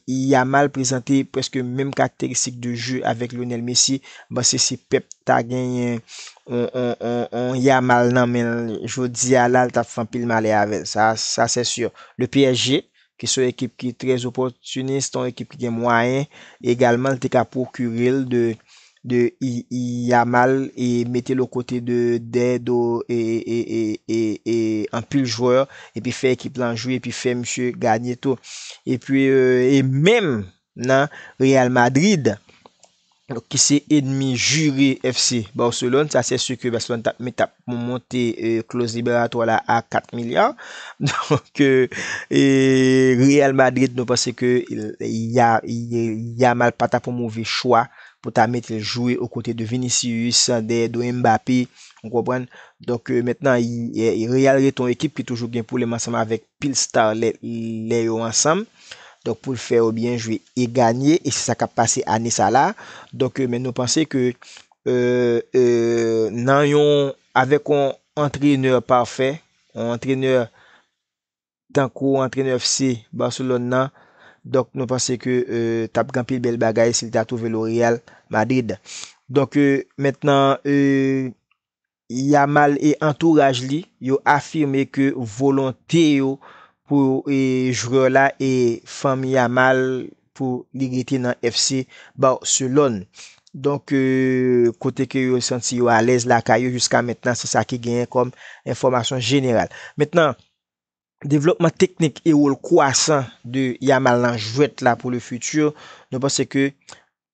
Yamal prezante preske menm karakteristik de jeu avek Lionel Messi mpanse si Pep ta genyen on Yamal nan menl jodia la li tap fè anpil malè avèl sa sè sur le PSG Ki se yon ekip ki trè opòtinis, yon ekip ki gen mwayen, egalman li te ka pwokire l de Yamal e mete l okote de dè do anpil jwè epi fè ekip lan jwe epi fè misye ganye tou. Epi e menm nan Real Madrid ki se enmi jire FC Barcelone, sa se si ke Barcelone tap met tap pou monte kloz liberatwa la a 4 milya. Donk, Real Madrid nou panse ke Yamal pa tap yon move chwa pou ta mete l jwe o kote de Vinicius, dèyè do Mbappé, ou konprann. Donk, mentnan Real rete yon ekip ki toujou gen pwoblèm ansanm avèk pil star lè lè yo ansanm donk poul fè yo byen jwe e ganye e se sa kap pase ane sa la donk men nou panse ke nan yon avèk yon antrenè pafè yon antrenè tankou antrenè FC Barcelone nan donk nou panse ke tap gen anpil bèl bagay sil ta twouve lo Real Madrid donk mentnan Yamal e antouraj li yo afime ke volonte yo pou jwè la e fanmi Yamal pou li rete nan FC Barcelone. Donk kote ke yo santi yo alèz lakay yo jiska mentnan se sa ki genyen kòm enfòmasyon jeneral. Mentnan, devlòpman teknik e wol kwasan de Yamal nan jwèt la pou le futur, nou panse ke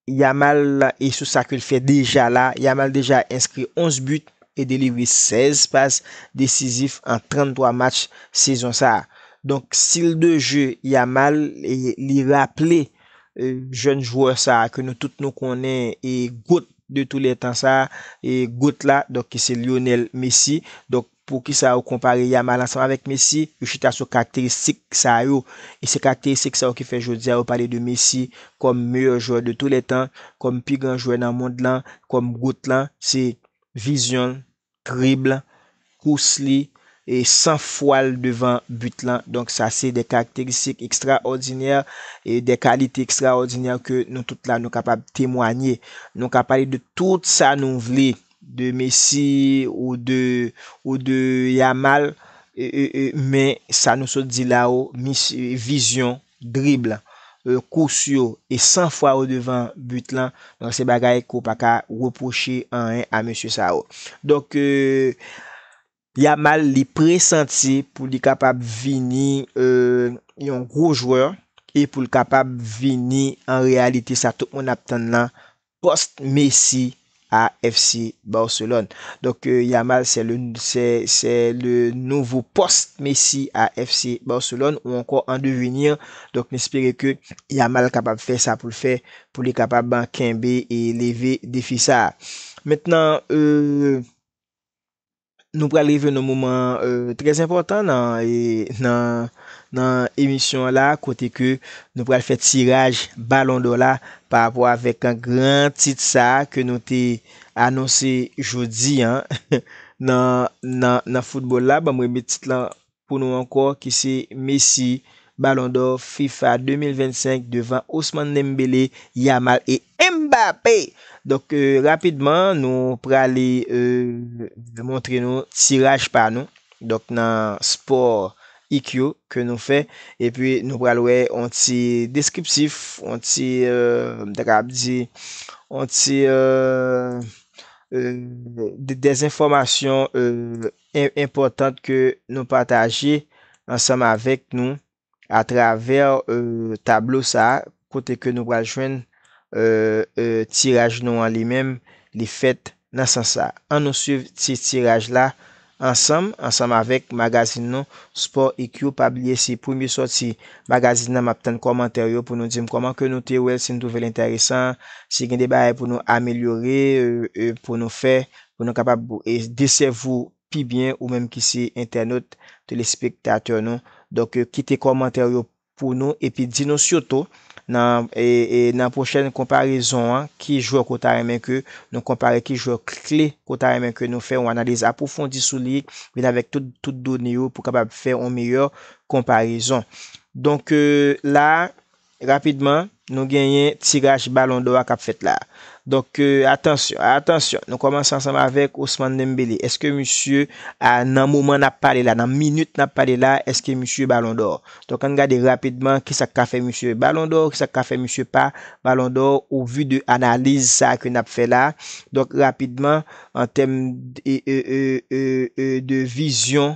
Yamal e sou sa ke l fè deja la, Yamal deja enskri 11 but e delivre 16 pas desizif an 33 match sezon sa. Donk stil de jeu Yamal li raple jèn jwè sa ke nou tout nou konnen e goat de tou lè tan sa, e goat la donk se Lionel Messi. Donk Poukisa yo konpare Yamal ansanm avèk Messi? Yo chita sou karakteristik sa yo, e se karakteristik sa yo ki fè jodi a yo pale de Messi kòm meyè jwè de tou lè tan, kòm pi gran jwè nan mond lan, kòm goat lan. Se vizyon l, dribble l, kous li, e san fwa l devan but lan. Donk sa se de karakteristik ekstraòdinè, e de kalite ekstraòdinè ke nou tout la nou kapab temwanye. Nou ka pale de tout sa nou vle, de Messi ou de ou de Yamal men sa nou sot di la ou misye vizyon, dribble, kous yo e san fwa ou devan but lan donk se bagay ke ou pa ka repwoche anyen a mesye sa yo donk Yamal li presanti pou li kapab vini yon gwo jwè e pou l kapab vini an reyalite sa tout moun ap tann lan, post Messi a FC Barcelone. Donk Yamal se le se le nouvo post Messi a FC Barcelone ou ankò an devenir. Donk n espere ke Yamal kapab fè sa pou l fè pou li kapab kenbe e leve defi sa. Mentnan Nou pral rive nan moman trè enpòtan nan emisyon an la kote ke nou pral fè tiraj balon dò la pa rapò avèk gran tit sa ke nou te anonse jodi an nan foutbòl la. Banm remèt tit lan pou nou ankò ki se Messi, Ballon d'Or fifa 2025 devan Ousmane Dembélé, Yamal e Mbappé! Donk rapidman nou prale montre nou tiraj pa nou donk nan sport ik yo ke nou fè epi nou pral wè on ti deskriptif, on ti m ta kapab di on ti dèzinfòmasyon enpòtant ke nou pataje ansanm avèk nou atravè tablo sa a kote ke nou pral jwenn tiraj nou an li menm li fèt nan sans sa a. An nou swiv ti tiraj la ansanm ansanm avèk magazin nou Sport IQ pa bliye se premye sòti magazin nan map tann kòmantè yo pou nou dim kòman ke nou te wèl si nou twouvel entèresan si gen de bagay pou nou amelyore pou nou fè pou nou kapab de sève ou pi byen ou menm ki se entènot telespektatè nou donk kite kòmantè ou yo pou nou epi di nou sitou nan nan pwochèn konparezon an ki jwè ke w ta renmen ke nou konpare ki jwè kle ke w ta renmen ke nou fè yon analiz apwofondi sou li vin avèk tout tout done yo pou kapab fè yon meyè konparezon donk la. Rapidman, nou genyen tiraj balon dò a k ap fèt la. Donk, atansyon, atansyon, nou kòmanse ansanm avèk Ousmane Dembélé. Èske misye, nan moman n ap pale la, nan minit n ap pale la, èske misye balon dò? Donk, ann gade rapidman ki sa k ka fè misye balon dò, ki sa k ka fè misye pa balon dò o vu de analiz sa ke n ap fè la. Donk, rapidman, an tèm de vizyon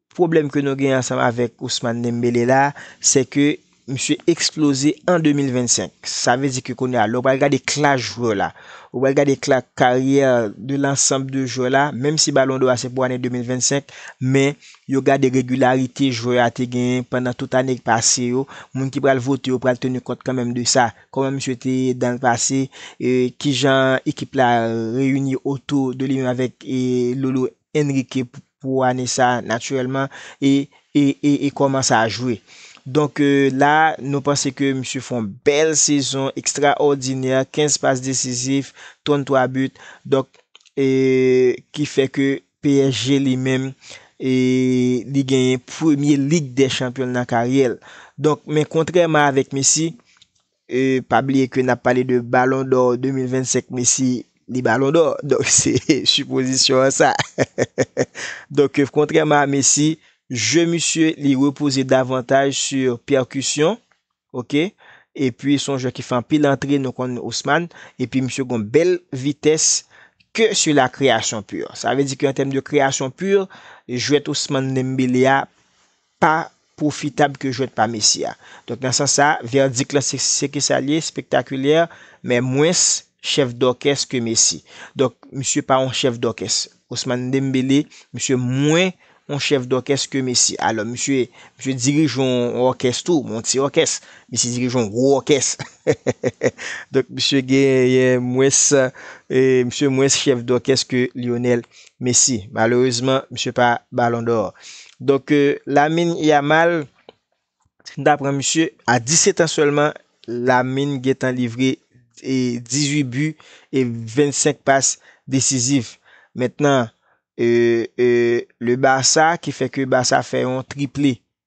Pwoblèm ke nou gen ansanm avèk Ousmane Dembélé la, sè ke misye eksploze an 2025. Sa vle di ke kounye a, lè ou pral gade klas jwè la, ou pral gade kla, karyè de lansanb de jwè la, menm si Balon dò a se pou ane 2025, men yo gade regilarite jwè a te genyen pandan tout ane ki pase yo, moun ki pral vote yo pral teni kont kanmenm de sa. Kòman misye te ye dan le pase, e kijan ekip la reyini otou de li menm avèk e Lolo. Enrique pou ane sa naturèlman e e e kòman sa jwe. Donk la nou panse ke misye fè yon bèl sezon ekstraòdinè, 15 pas desizif, 33 but, donk e ki fè ke psg li menm e li genyen premye lig dè chanpyon l nan karyè l. Donk men kontrèman avèk Messi, E pa bliye ke nap pale de balon dò 2025 Messi li balon dò donk se sipozisyon an sa donk kontrèman a Messi jeu misye li repoze davantaj sur pèrkusyon ok epi son jwè ki fè anpil antre nou konn Ousmane epi misye gon bèl vitès ke sur la kreyasyon pur sa vle di ke an tèm de kreyasyon pur jwèt Ousmane Dembele a pa pwofitab ke jwèt pa Messi a. Donk nan sans sa, vèdik lan se se ke sa li ye, spektakulè, men mwens chèf dòkès ke Messi. Donk, misye pa yon chèf dòkès. Ousmane Dembélé, misye mwen yon chèf dòkès ke Messi. Alò, misye, misye dirije yon òkès tou, men yon ti òkès. Messi dirije yon gwo òkès. Donk, misye genyen mwens, misye mwens chèf dòkès ke Lionel. Messi. Malerezman, misye pa Ballon d'Or. Donk, Lamine Yamal, si nou ta pran misye, a 17 an sèlman, Lamine gentan livre 18 bi e 25 pas desizif. Mentnan, le Barça ki fè ke Barça fè yon triple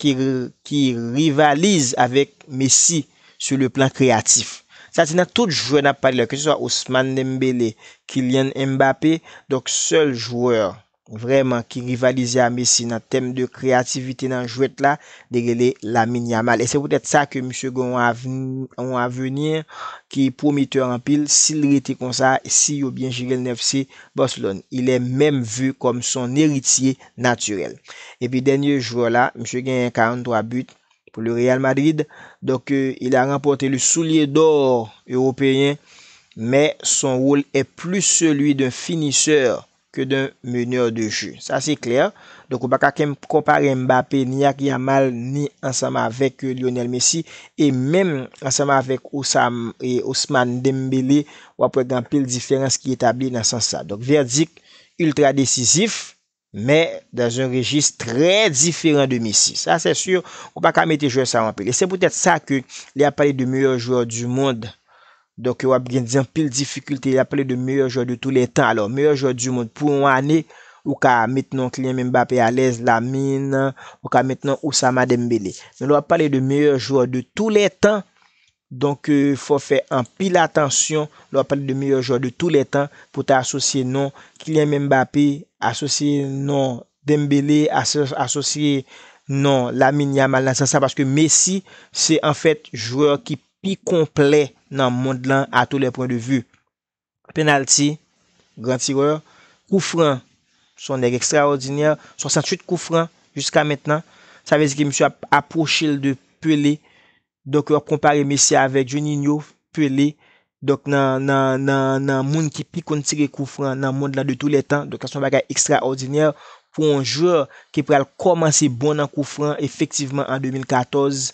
ki rivalize avèk Messi sou le plan kreyatif. Sa di nan tout jwè n ap pale la, ke se swa Ousmane Dembele, Kylian Mbappé, donk sèl jwè vrèman ki rivalize a Messi nan tèm de kreyativite nan jwèt la, li rele Lamine Yamal. E se poutèt sa ke misye gen yon aveni ki pwometè anpil, si l rete konsa, si yo byen jere l nan FC Barcelone. Il est meme vu comme son héritier naturel. Epi dènye jwè la, misye genyen 43 but pou le Real Madrid. Donk il a ranpòte le soulier d'or ewopeyen, mè son wol è plis seli d'un finiseur ke d'un meneur de jeu. Sa se klè. Donk ou pa ka konpare Mbappé ni ak Yamal ni ansanm avèk Lionel Messi e menm ansanm avèk Ousmane Dembélé, w'ap wè gen anpil diferans ki etabli nan sans sa. Donk vèdik Ultra desizif, men dans un rejis trè diferan de Messi. Sa sè sur, ou pa ka mete jwè sa anpil. E se poutèt sa ke lè yap pale de meyè jwè du mond, donk yo ap gen di anpil difikilte, yap pale de meyè jwè de tou lè tan. Alò, meyè jwè du mond pou yon ane, ou ka met non Kylian Mbappé alèz, Lamine, ou ka met non Oussama Dembélé. Men lè wap pale de meyè jwè de tou lè tan, Donk fò fè anpil atansyon lè wap pale de meyè jwè de tou lè tan pou ta asosye non Kylian Mbappé, asosye non Dembele, asosye non Lamine Yamal nan sans sa paske Messi se anfèt jwè ki pi konplè nan mond lan a tou lè pwen de vi. Penalty, gran tireur, kou fran, son nèg ekstraòdinè, 68 kou fran jiska mentnan, sa vle di ke misye ap apwoche l de Pelé, donk yo ap konpare Messi avèk Juninho, Pelé, donk nan nan nan nan moun ki pi konn tire kou fran nan mond lan de tou lè tan, donk sa son bagay ekstraòdinè pou yon jwè ki pral kòmanse bon nan kou fran efektivman an 2014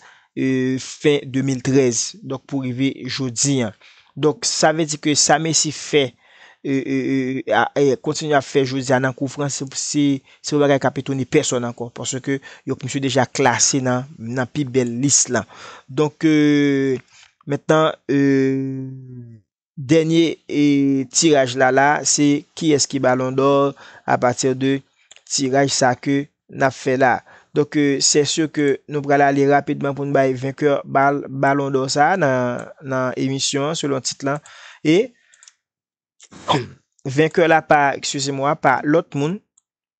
fen 2013 donk pou rive jodi an. Donk sa vle di ke sa Messi fè e kontinye ap fè jodi a nan kou Frans se pa yon bagay kap etone pèsòn ankò paske yo misye deja klase nan pi bèl lis lan. Donk mentnan. Dènye tiraj la la se kiyès ki balon dò a patir de tiraj sa ke nap fè la. Donk sè sur ke nou pral ale rapidman poun bay venkè balon dò sa nan emisyon an selon tit lan e venkè la pa, eksizemwa, pa lòt moun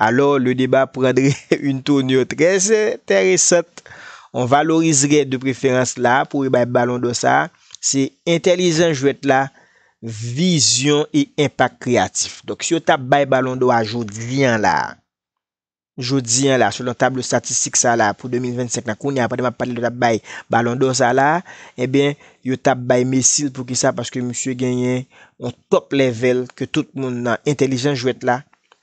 Alò le deba prandre yn tounur trè entèresant. On valorizrè de preferans la pou ebay balon dò sa se entèlijans jwèt la, vizyon e enpak kreyatif. Donk si yo tap bay balon dò a jodi an la, jodi an la selon tablo statistik sa la pou 2025 la kounya pandan map pale yo tap bay balon dò sa la ebyen yo tap bay Messi l poukisa paske misye genyen on top level ke tout moun nan entèlijans jwèt la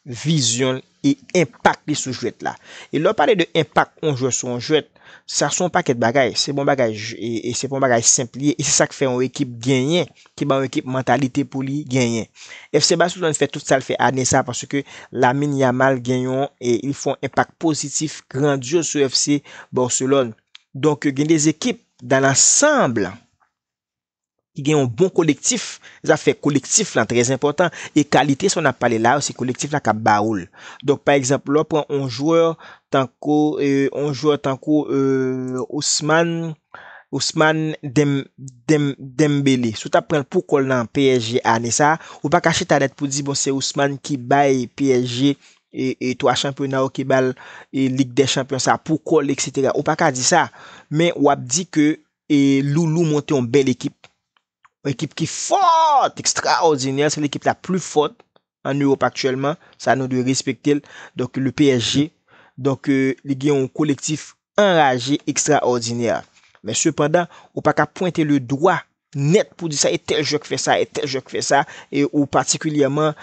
vizyon l e enpak li sou jwèt la. E lè w pale de enpak yon jwè sou yon jwèt, sa sou yon pakèt bagay. Se pa yon bagay, se pa yon bagay senp li ye e se sa k fè yon ekip genyen, ki ban yon ekip mantalite pou li genyen. FC Barcelone fè tout sa l fè ane sa paske Lamine Yamal gen yon, li fè yon enpak pozitif, grandyoz sou FC Barcelone. Donk gen de ekip dan lansanb, ki gen yon bon kolektif, zafè kolektif lan trè enpòtan e kalite sa w nap pale la yo se kolektif la kap ba ou l. Donk pa egzanp lè w pran yon jwè tankou yon jwè tankou Ousman Ousman Dem Dem Dembele, si w tap pran l pou kò l nan psg ane sa, ou pa ka chita nèt pou di bon se Ousman ki bay psg 3 chanpyona yo ki ba l lig dè chanpyon sa pou kò l eksetera ou pa ka di sa men wap di ke E loulou monte yon bèl ekip. Yon ekip ki fort, extraordinaire. Se l'ekip la plus forte en Europe actuellement. Sa nou dwe respekte l. Donk le PSG. Donk li gen yon kolektif anraje, extraordinaire. Men sepandan, ou pa ka pwente le dwa nèt pou di sa e tèl jwè k fè sa, e tèl jwè k fè sa. E ou patikilyèman,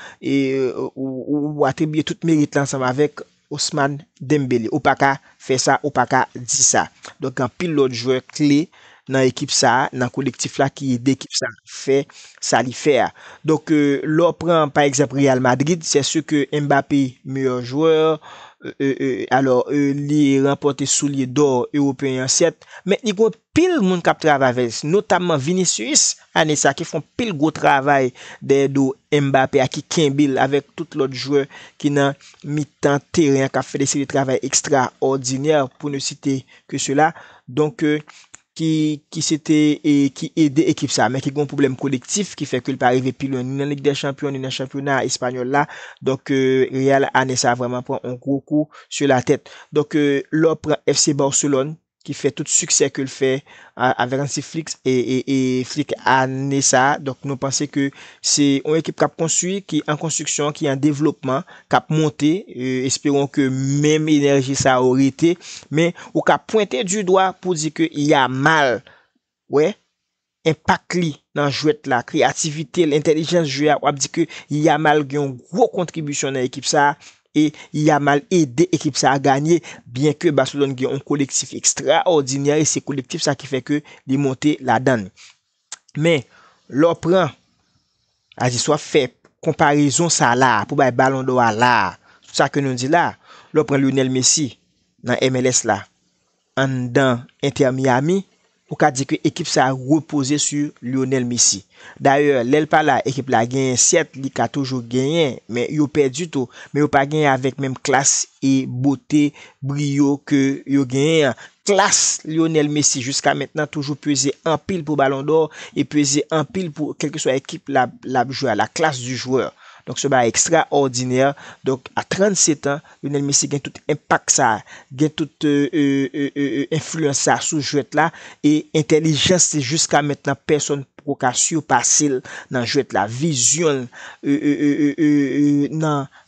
ou atribye tout merit la ansanm avèk Ousmane Dembélé ou paka fè sa ou paka di sa. Donk gen anpil lòt jwè kle nan ekip sa a, nan kolektif la ki ede ekip sa a fè sa li fè a. Donk lè w pran pa egzanp Real Madrid sè sè ke Mbappé meyè jwè, alò li ranpòte soulye dò ewopeyen an sèt men li gon Pil moun kap travay avèl notamman Vinicius ane sa ki fon pil gwo travay dèyè do Mbappé a ki kenbel avèk tout lòt jwè ki nan mitan teren an kap fè de seri travay ekstra òdinè pou ne site ke sela donk ki ki se te ki ede ekip sa men ki gon pwoblèm kolektif ki fè ke li pa rive pi lwen ni nan lig dè chanpyon ni nan chanpyona espanyòl la donk Real ane sa vrèman pran on gwo kou su la tèt donk lè w pran FC Barcelone ki fè tout siksè ke l fè avèk Hansi Flick e Flick ane sa a, donk nou panse ke se yon ekip k ap konstwi, ki an konstwiksyon, ki an devlopman, k ap monte, esperon ke menm enèji sa yo rete, men ou ka pwente du dwa pou di ke Yamal wè enpak li nan jwèt la, kreyativite l, entèlijans jwe a, w ap di ke Yamal gen yon gwo kontribisyon nan ekip sa a e Yamal ede ekip sa a ganye byen ke Barcelone gen yon kolektif ekstraòdinè e se kolektif sa ki fè ke li monte ladan l. Men, lè w pran, a di si w ap fè konparezon sa la a pou bay balon dò a la a, tout sa ke nou di la a, lè w pran Lionel Messi nan MLS la, Anndan Inter Miami, ou ka di ke ekip sa repoze su Lionel Messi. Dayè, lè l pa la, ekip la genyen, sèt li ka toujou genyen, men yo pèdi tou, men yo pa genyen avèk menm klas e bote, briyo ke yo genyen an. Klas Lionel Messi jiska mentnan toujou peze anpil pou Ballon d'Or e peze anpil pou kèlkeswa ekip l ap jwe a, la classe du joueur. Donk se yon bagay ekstraòdinè, donk a 37 ans, Lionel Messi gen tout enpak sa, gen tout enfliyans sa sou jwèt la e entèlijans li jiska mentnan pèsonn poko ka sipase l nan jwèt la. Vizyon l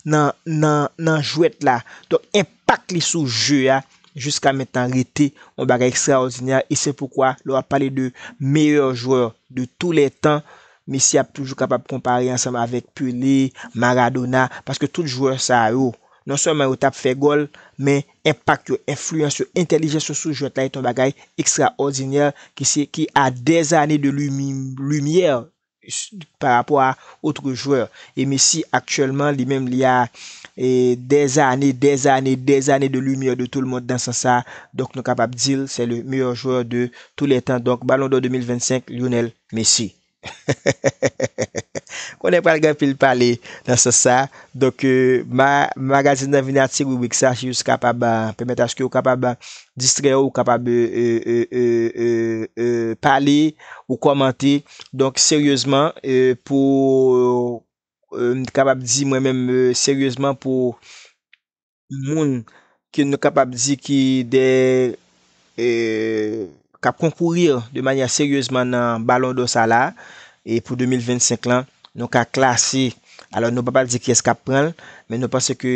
nan jwèt la, donk enpak li sou je a jiska mentnan rete yon bagay ekstraòdinè e se poukwa lè w ap pale de meyè jwè de tou lè tan, Messi ap toujou kapab konpare ansanm avèk Pelé, Maradona, paske tout jwè sa yo, non sèlman yo tap fè gòl, men enpak yo, enfliyans yo, entèlijans yo sou jwèt la et yon bagay ekstraòdinè ki se ki a dè zane de limyè pa rapò a otre jwè. E Messi aktyèlman li menm li a dè zane, dè zane, dè zane de limyè de toulmond nan sans sa, donk nou kapab di l sè le meyò jwè de tou lè tan, donk Balon dò 2025, Lionel. Mesi. Konnen pral gen anpil pale nan sans sa. Donk ma magazin nan vini a ti ribrik sa si jis kapab pèmèt aske ou kapab distrè ou, ou kapab pale, ou kòmante. Donk seryezman pou m kapab di mwen menm seryezman pou. moun ke nou kapab di ki de kap konkourir de manyè seryezman nan balon dò sa la e pou 2025 lan nou ka klase alò nou pa pral di kiyès kap pranl men nou panse ke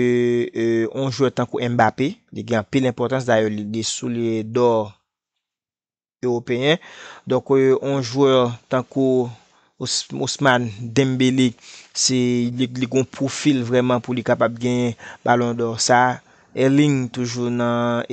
yon jwè tankou Mbappé li gen anpil enpòtans dayè li li souliye dò. Ewopeyen. Donk yon jwè tankou Ousmane Dembele se li gon pwofil vrèman pou li kapab genyen Ballon d'or sa. Erling toujou nan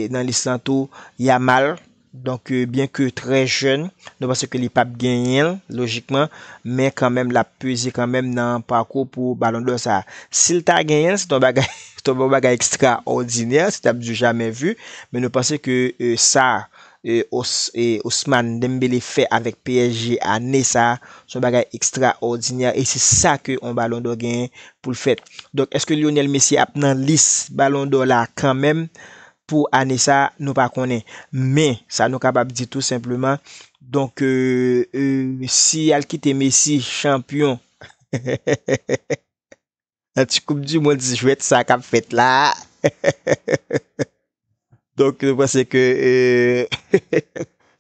nan lis lan tou. Yamal, donk byen ke trè jèn, nou panse ke li pap genyen'l lojikman, men kanmenm lap peze kanmenm nan pakou pou Ballon d'or sa. Sil ta genyen'l se te yon bagay Ton bon bagay extra ordinaire se tap du jamais vu men nou panse ke sa Ousmane Dembele fè avèk psg ane sa son bagay extra ordinaire e se sa ke on balon dò genyen poul fè donk eske Lionel Messi ap nan lis balon dò la kan menm pou ane sa nou pa konnen men sa nou kapab di tou senpleman donk si yal kite Messi chanpyon. Nan ti koup di mond jwèt sa kap fèt la a. Donk nou panse ke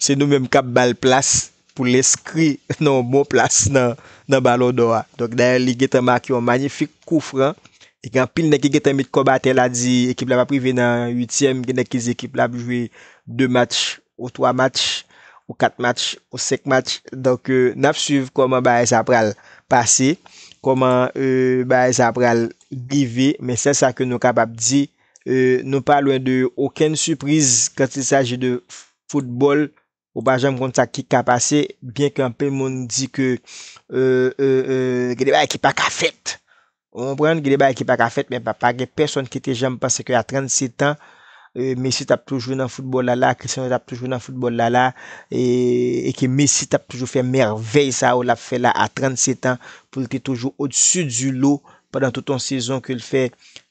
se nou menm kap bal plas pou l enskri nan yon bon plas nan balon dò a. Donk dayè li gentan make yon manyifik kou fran. E gen anpil nèg ki gentan met kòb atè la di ekip la pap rive nan uityèm. Gen nèg ki di ekip la ap jwe 2 match ou 3 match, ou 4 match, ou 5 match, donk nap swiv kòman bagay sa pral pase, kòman bagay sa pral rive, men sèl sa ke nou kapab di, nou pa lwen de okenn sipriz kant il saji de foutbòl, ou pa janm konn sa ki ka pase, byen ke anpil moun di ke gen de bagay ki pa ka fèt, Ou konprann, gen de bagay ki pa ka fèt men pa pa gen pèsonn ki te janm panse ke a 37 an Messi t ap toujou nan foutbòl la la, Cristiano t ap toujou nan foutbòl la la e ke Messi t ap toujou fè mèvèy sa yo l ap fè la a 37 an pou l te toujou odsu di lo pandan tout yon sezon ke l fè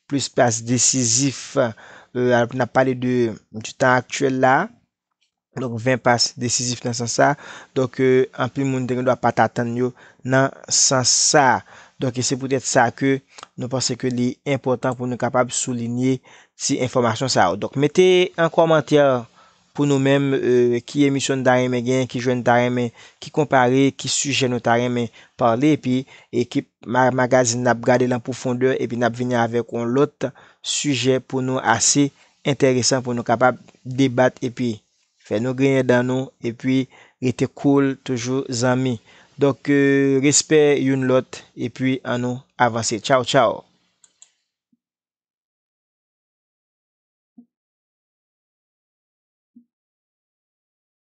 plis pas desizif n ap pale de tan aktyèl la a. Donk 20 pas desizif nan sans sa. Donk anpil moun te gendwa pa t atann yo nan sans sa. Donk e se poutèt sa ke nou panse ke li enpòtan pou nou kapab soulinye ti enfòmasyon sa yo. Donk mete an kòmantè pou nou menm ki emisyon nou ta renmen gen, ki jwè nou ta renmen ki konpare, ki sijè nou ta renmen pale. Epi ekip Magazin n ap gade l an pwofondè epi n ap vini avèk yon lòt sijè pou nou ase enteresan pou nou kapab debat epi fè nou griyen dan nou epi rete cool toujou zanmi donk respè youn lòt epi an nou avanse tchaw tchaw.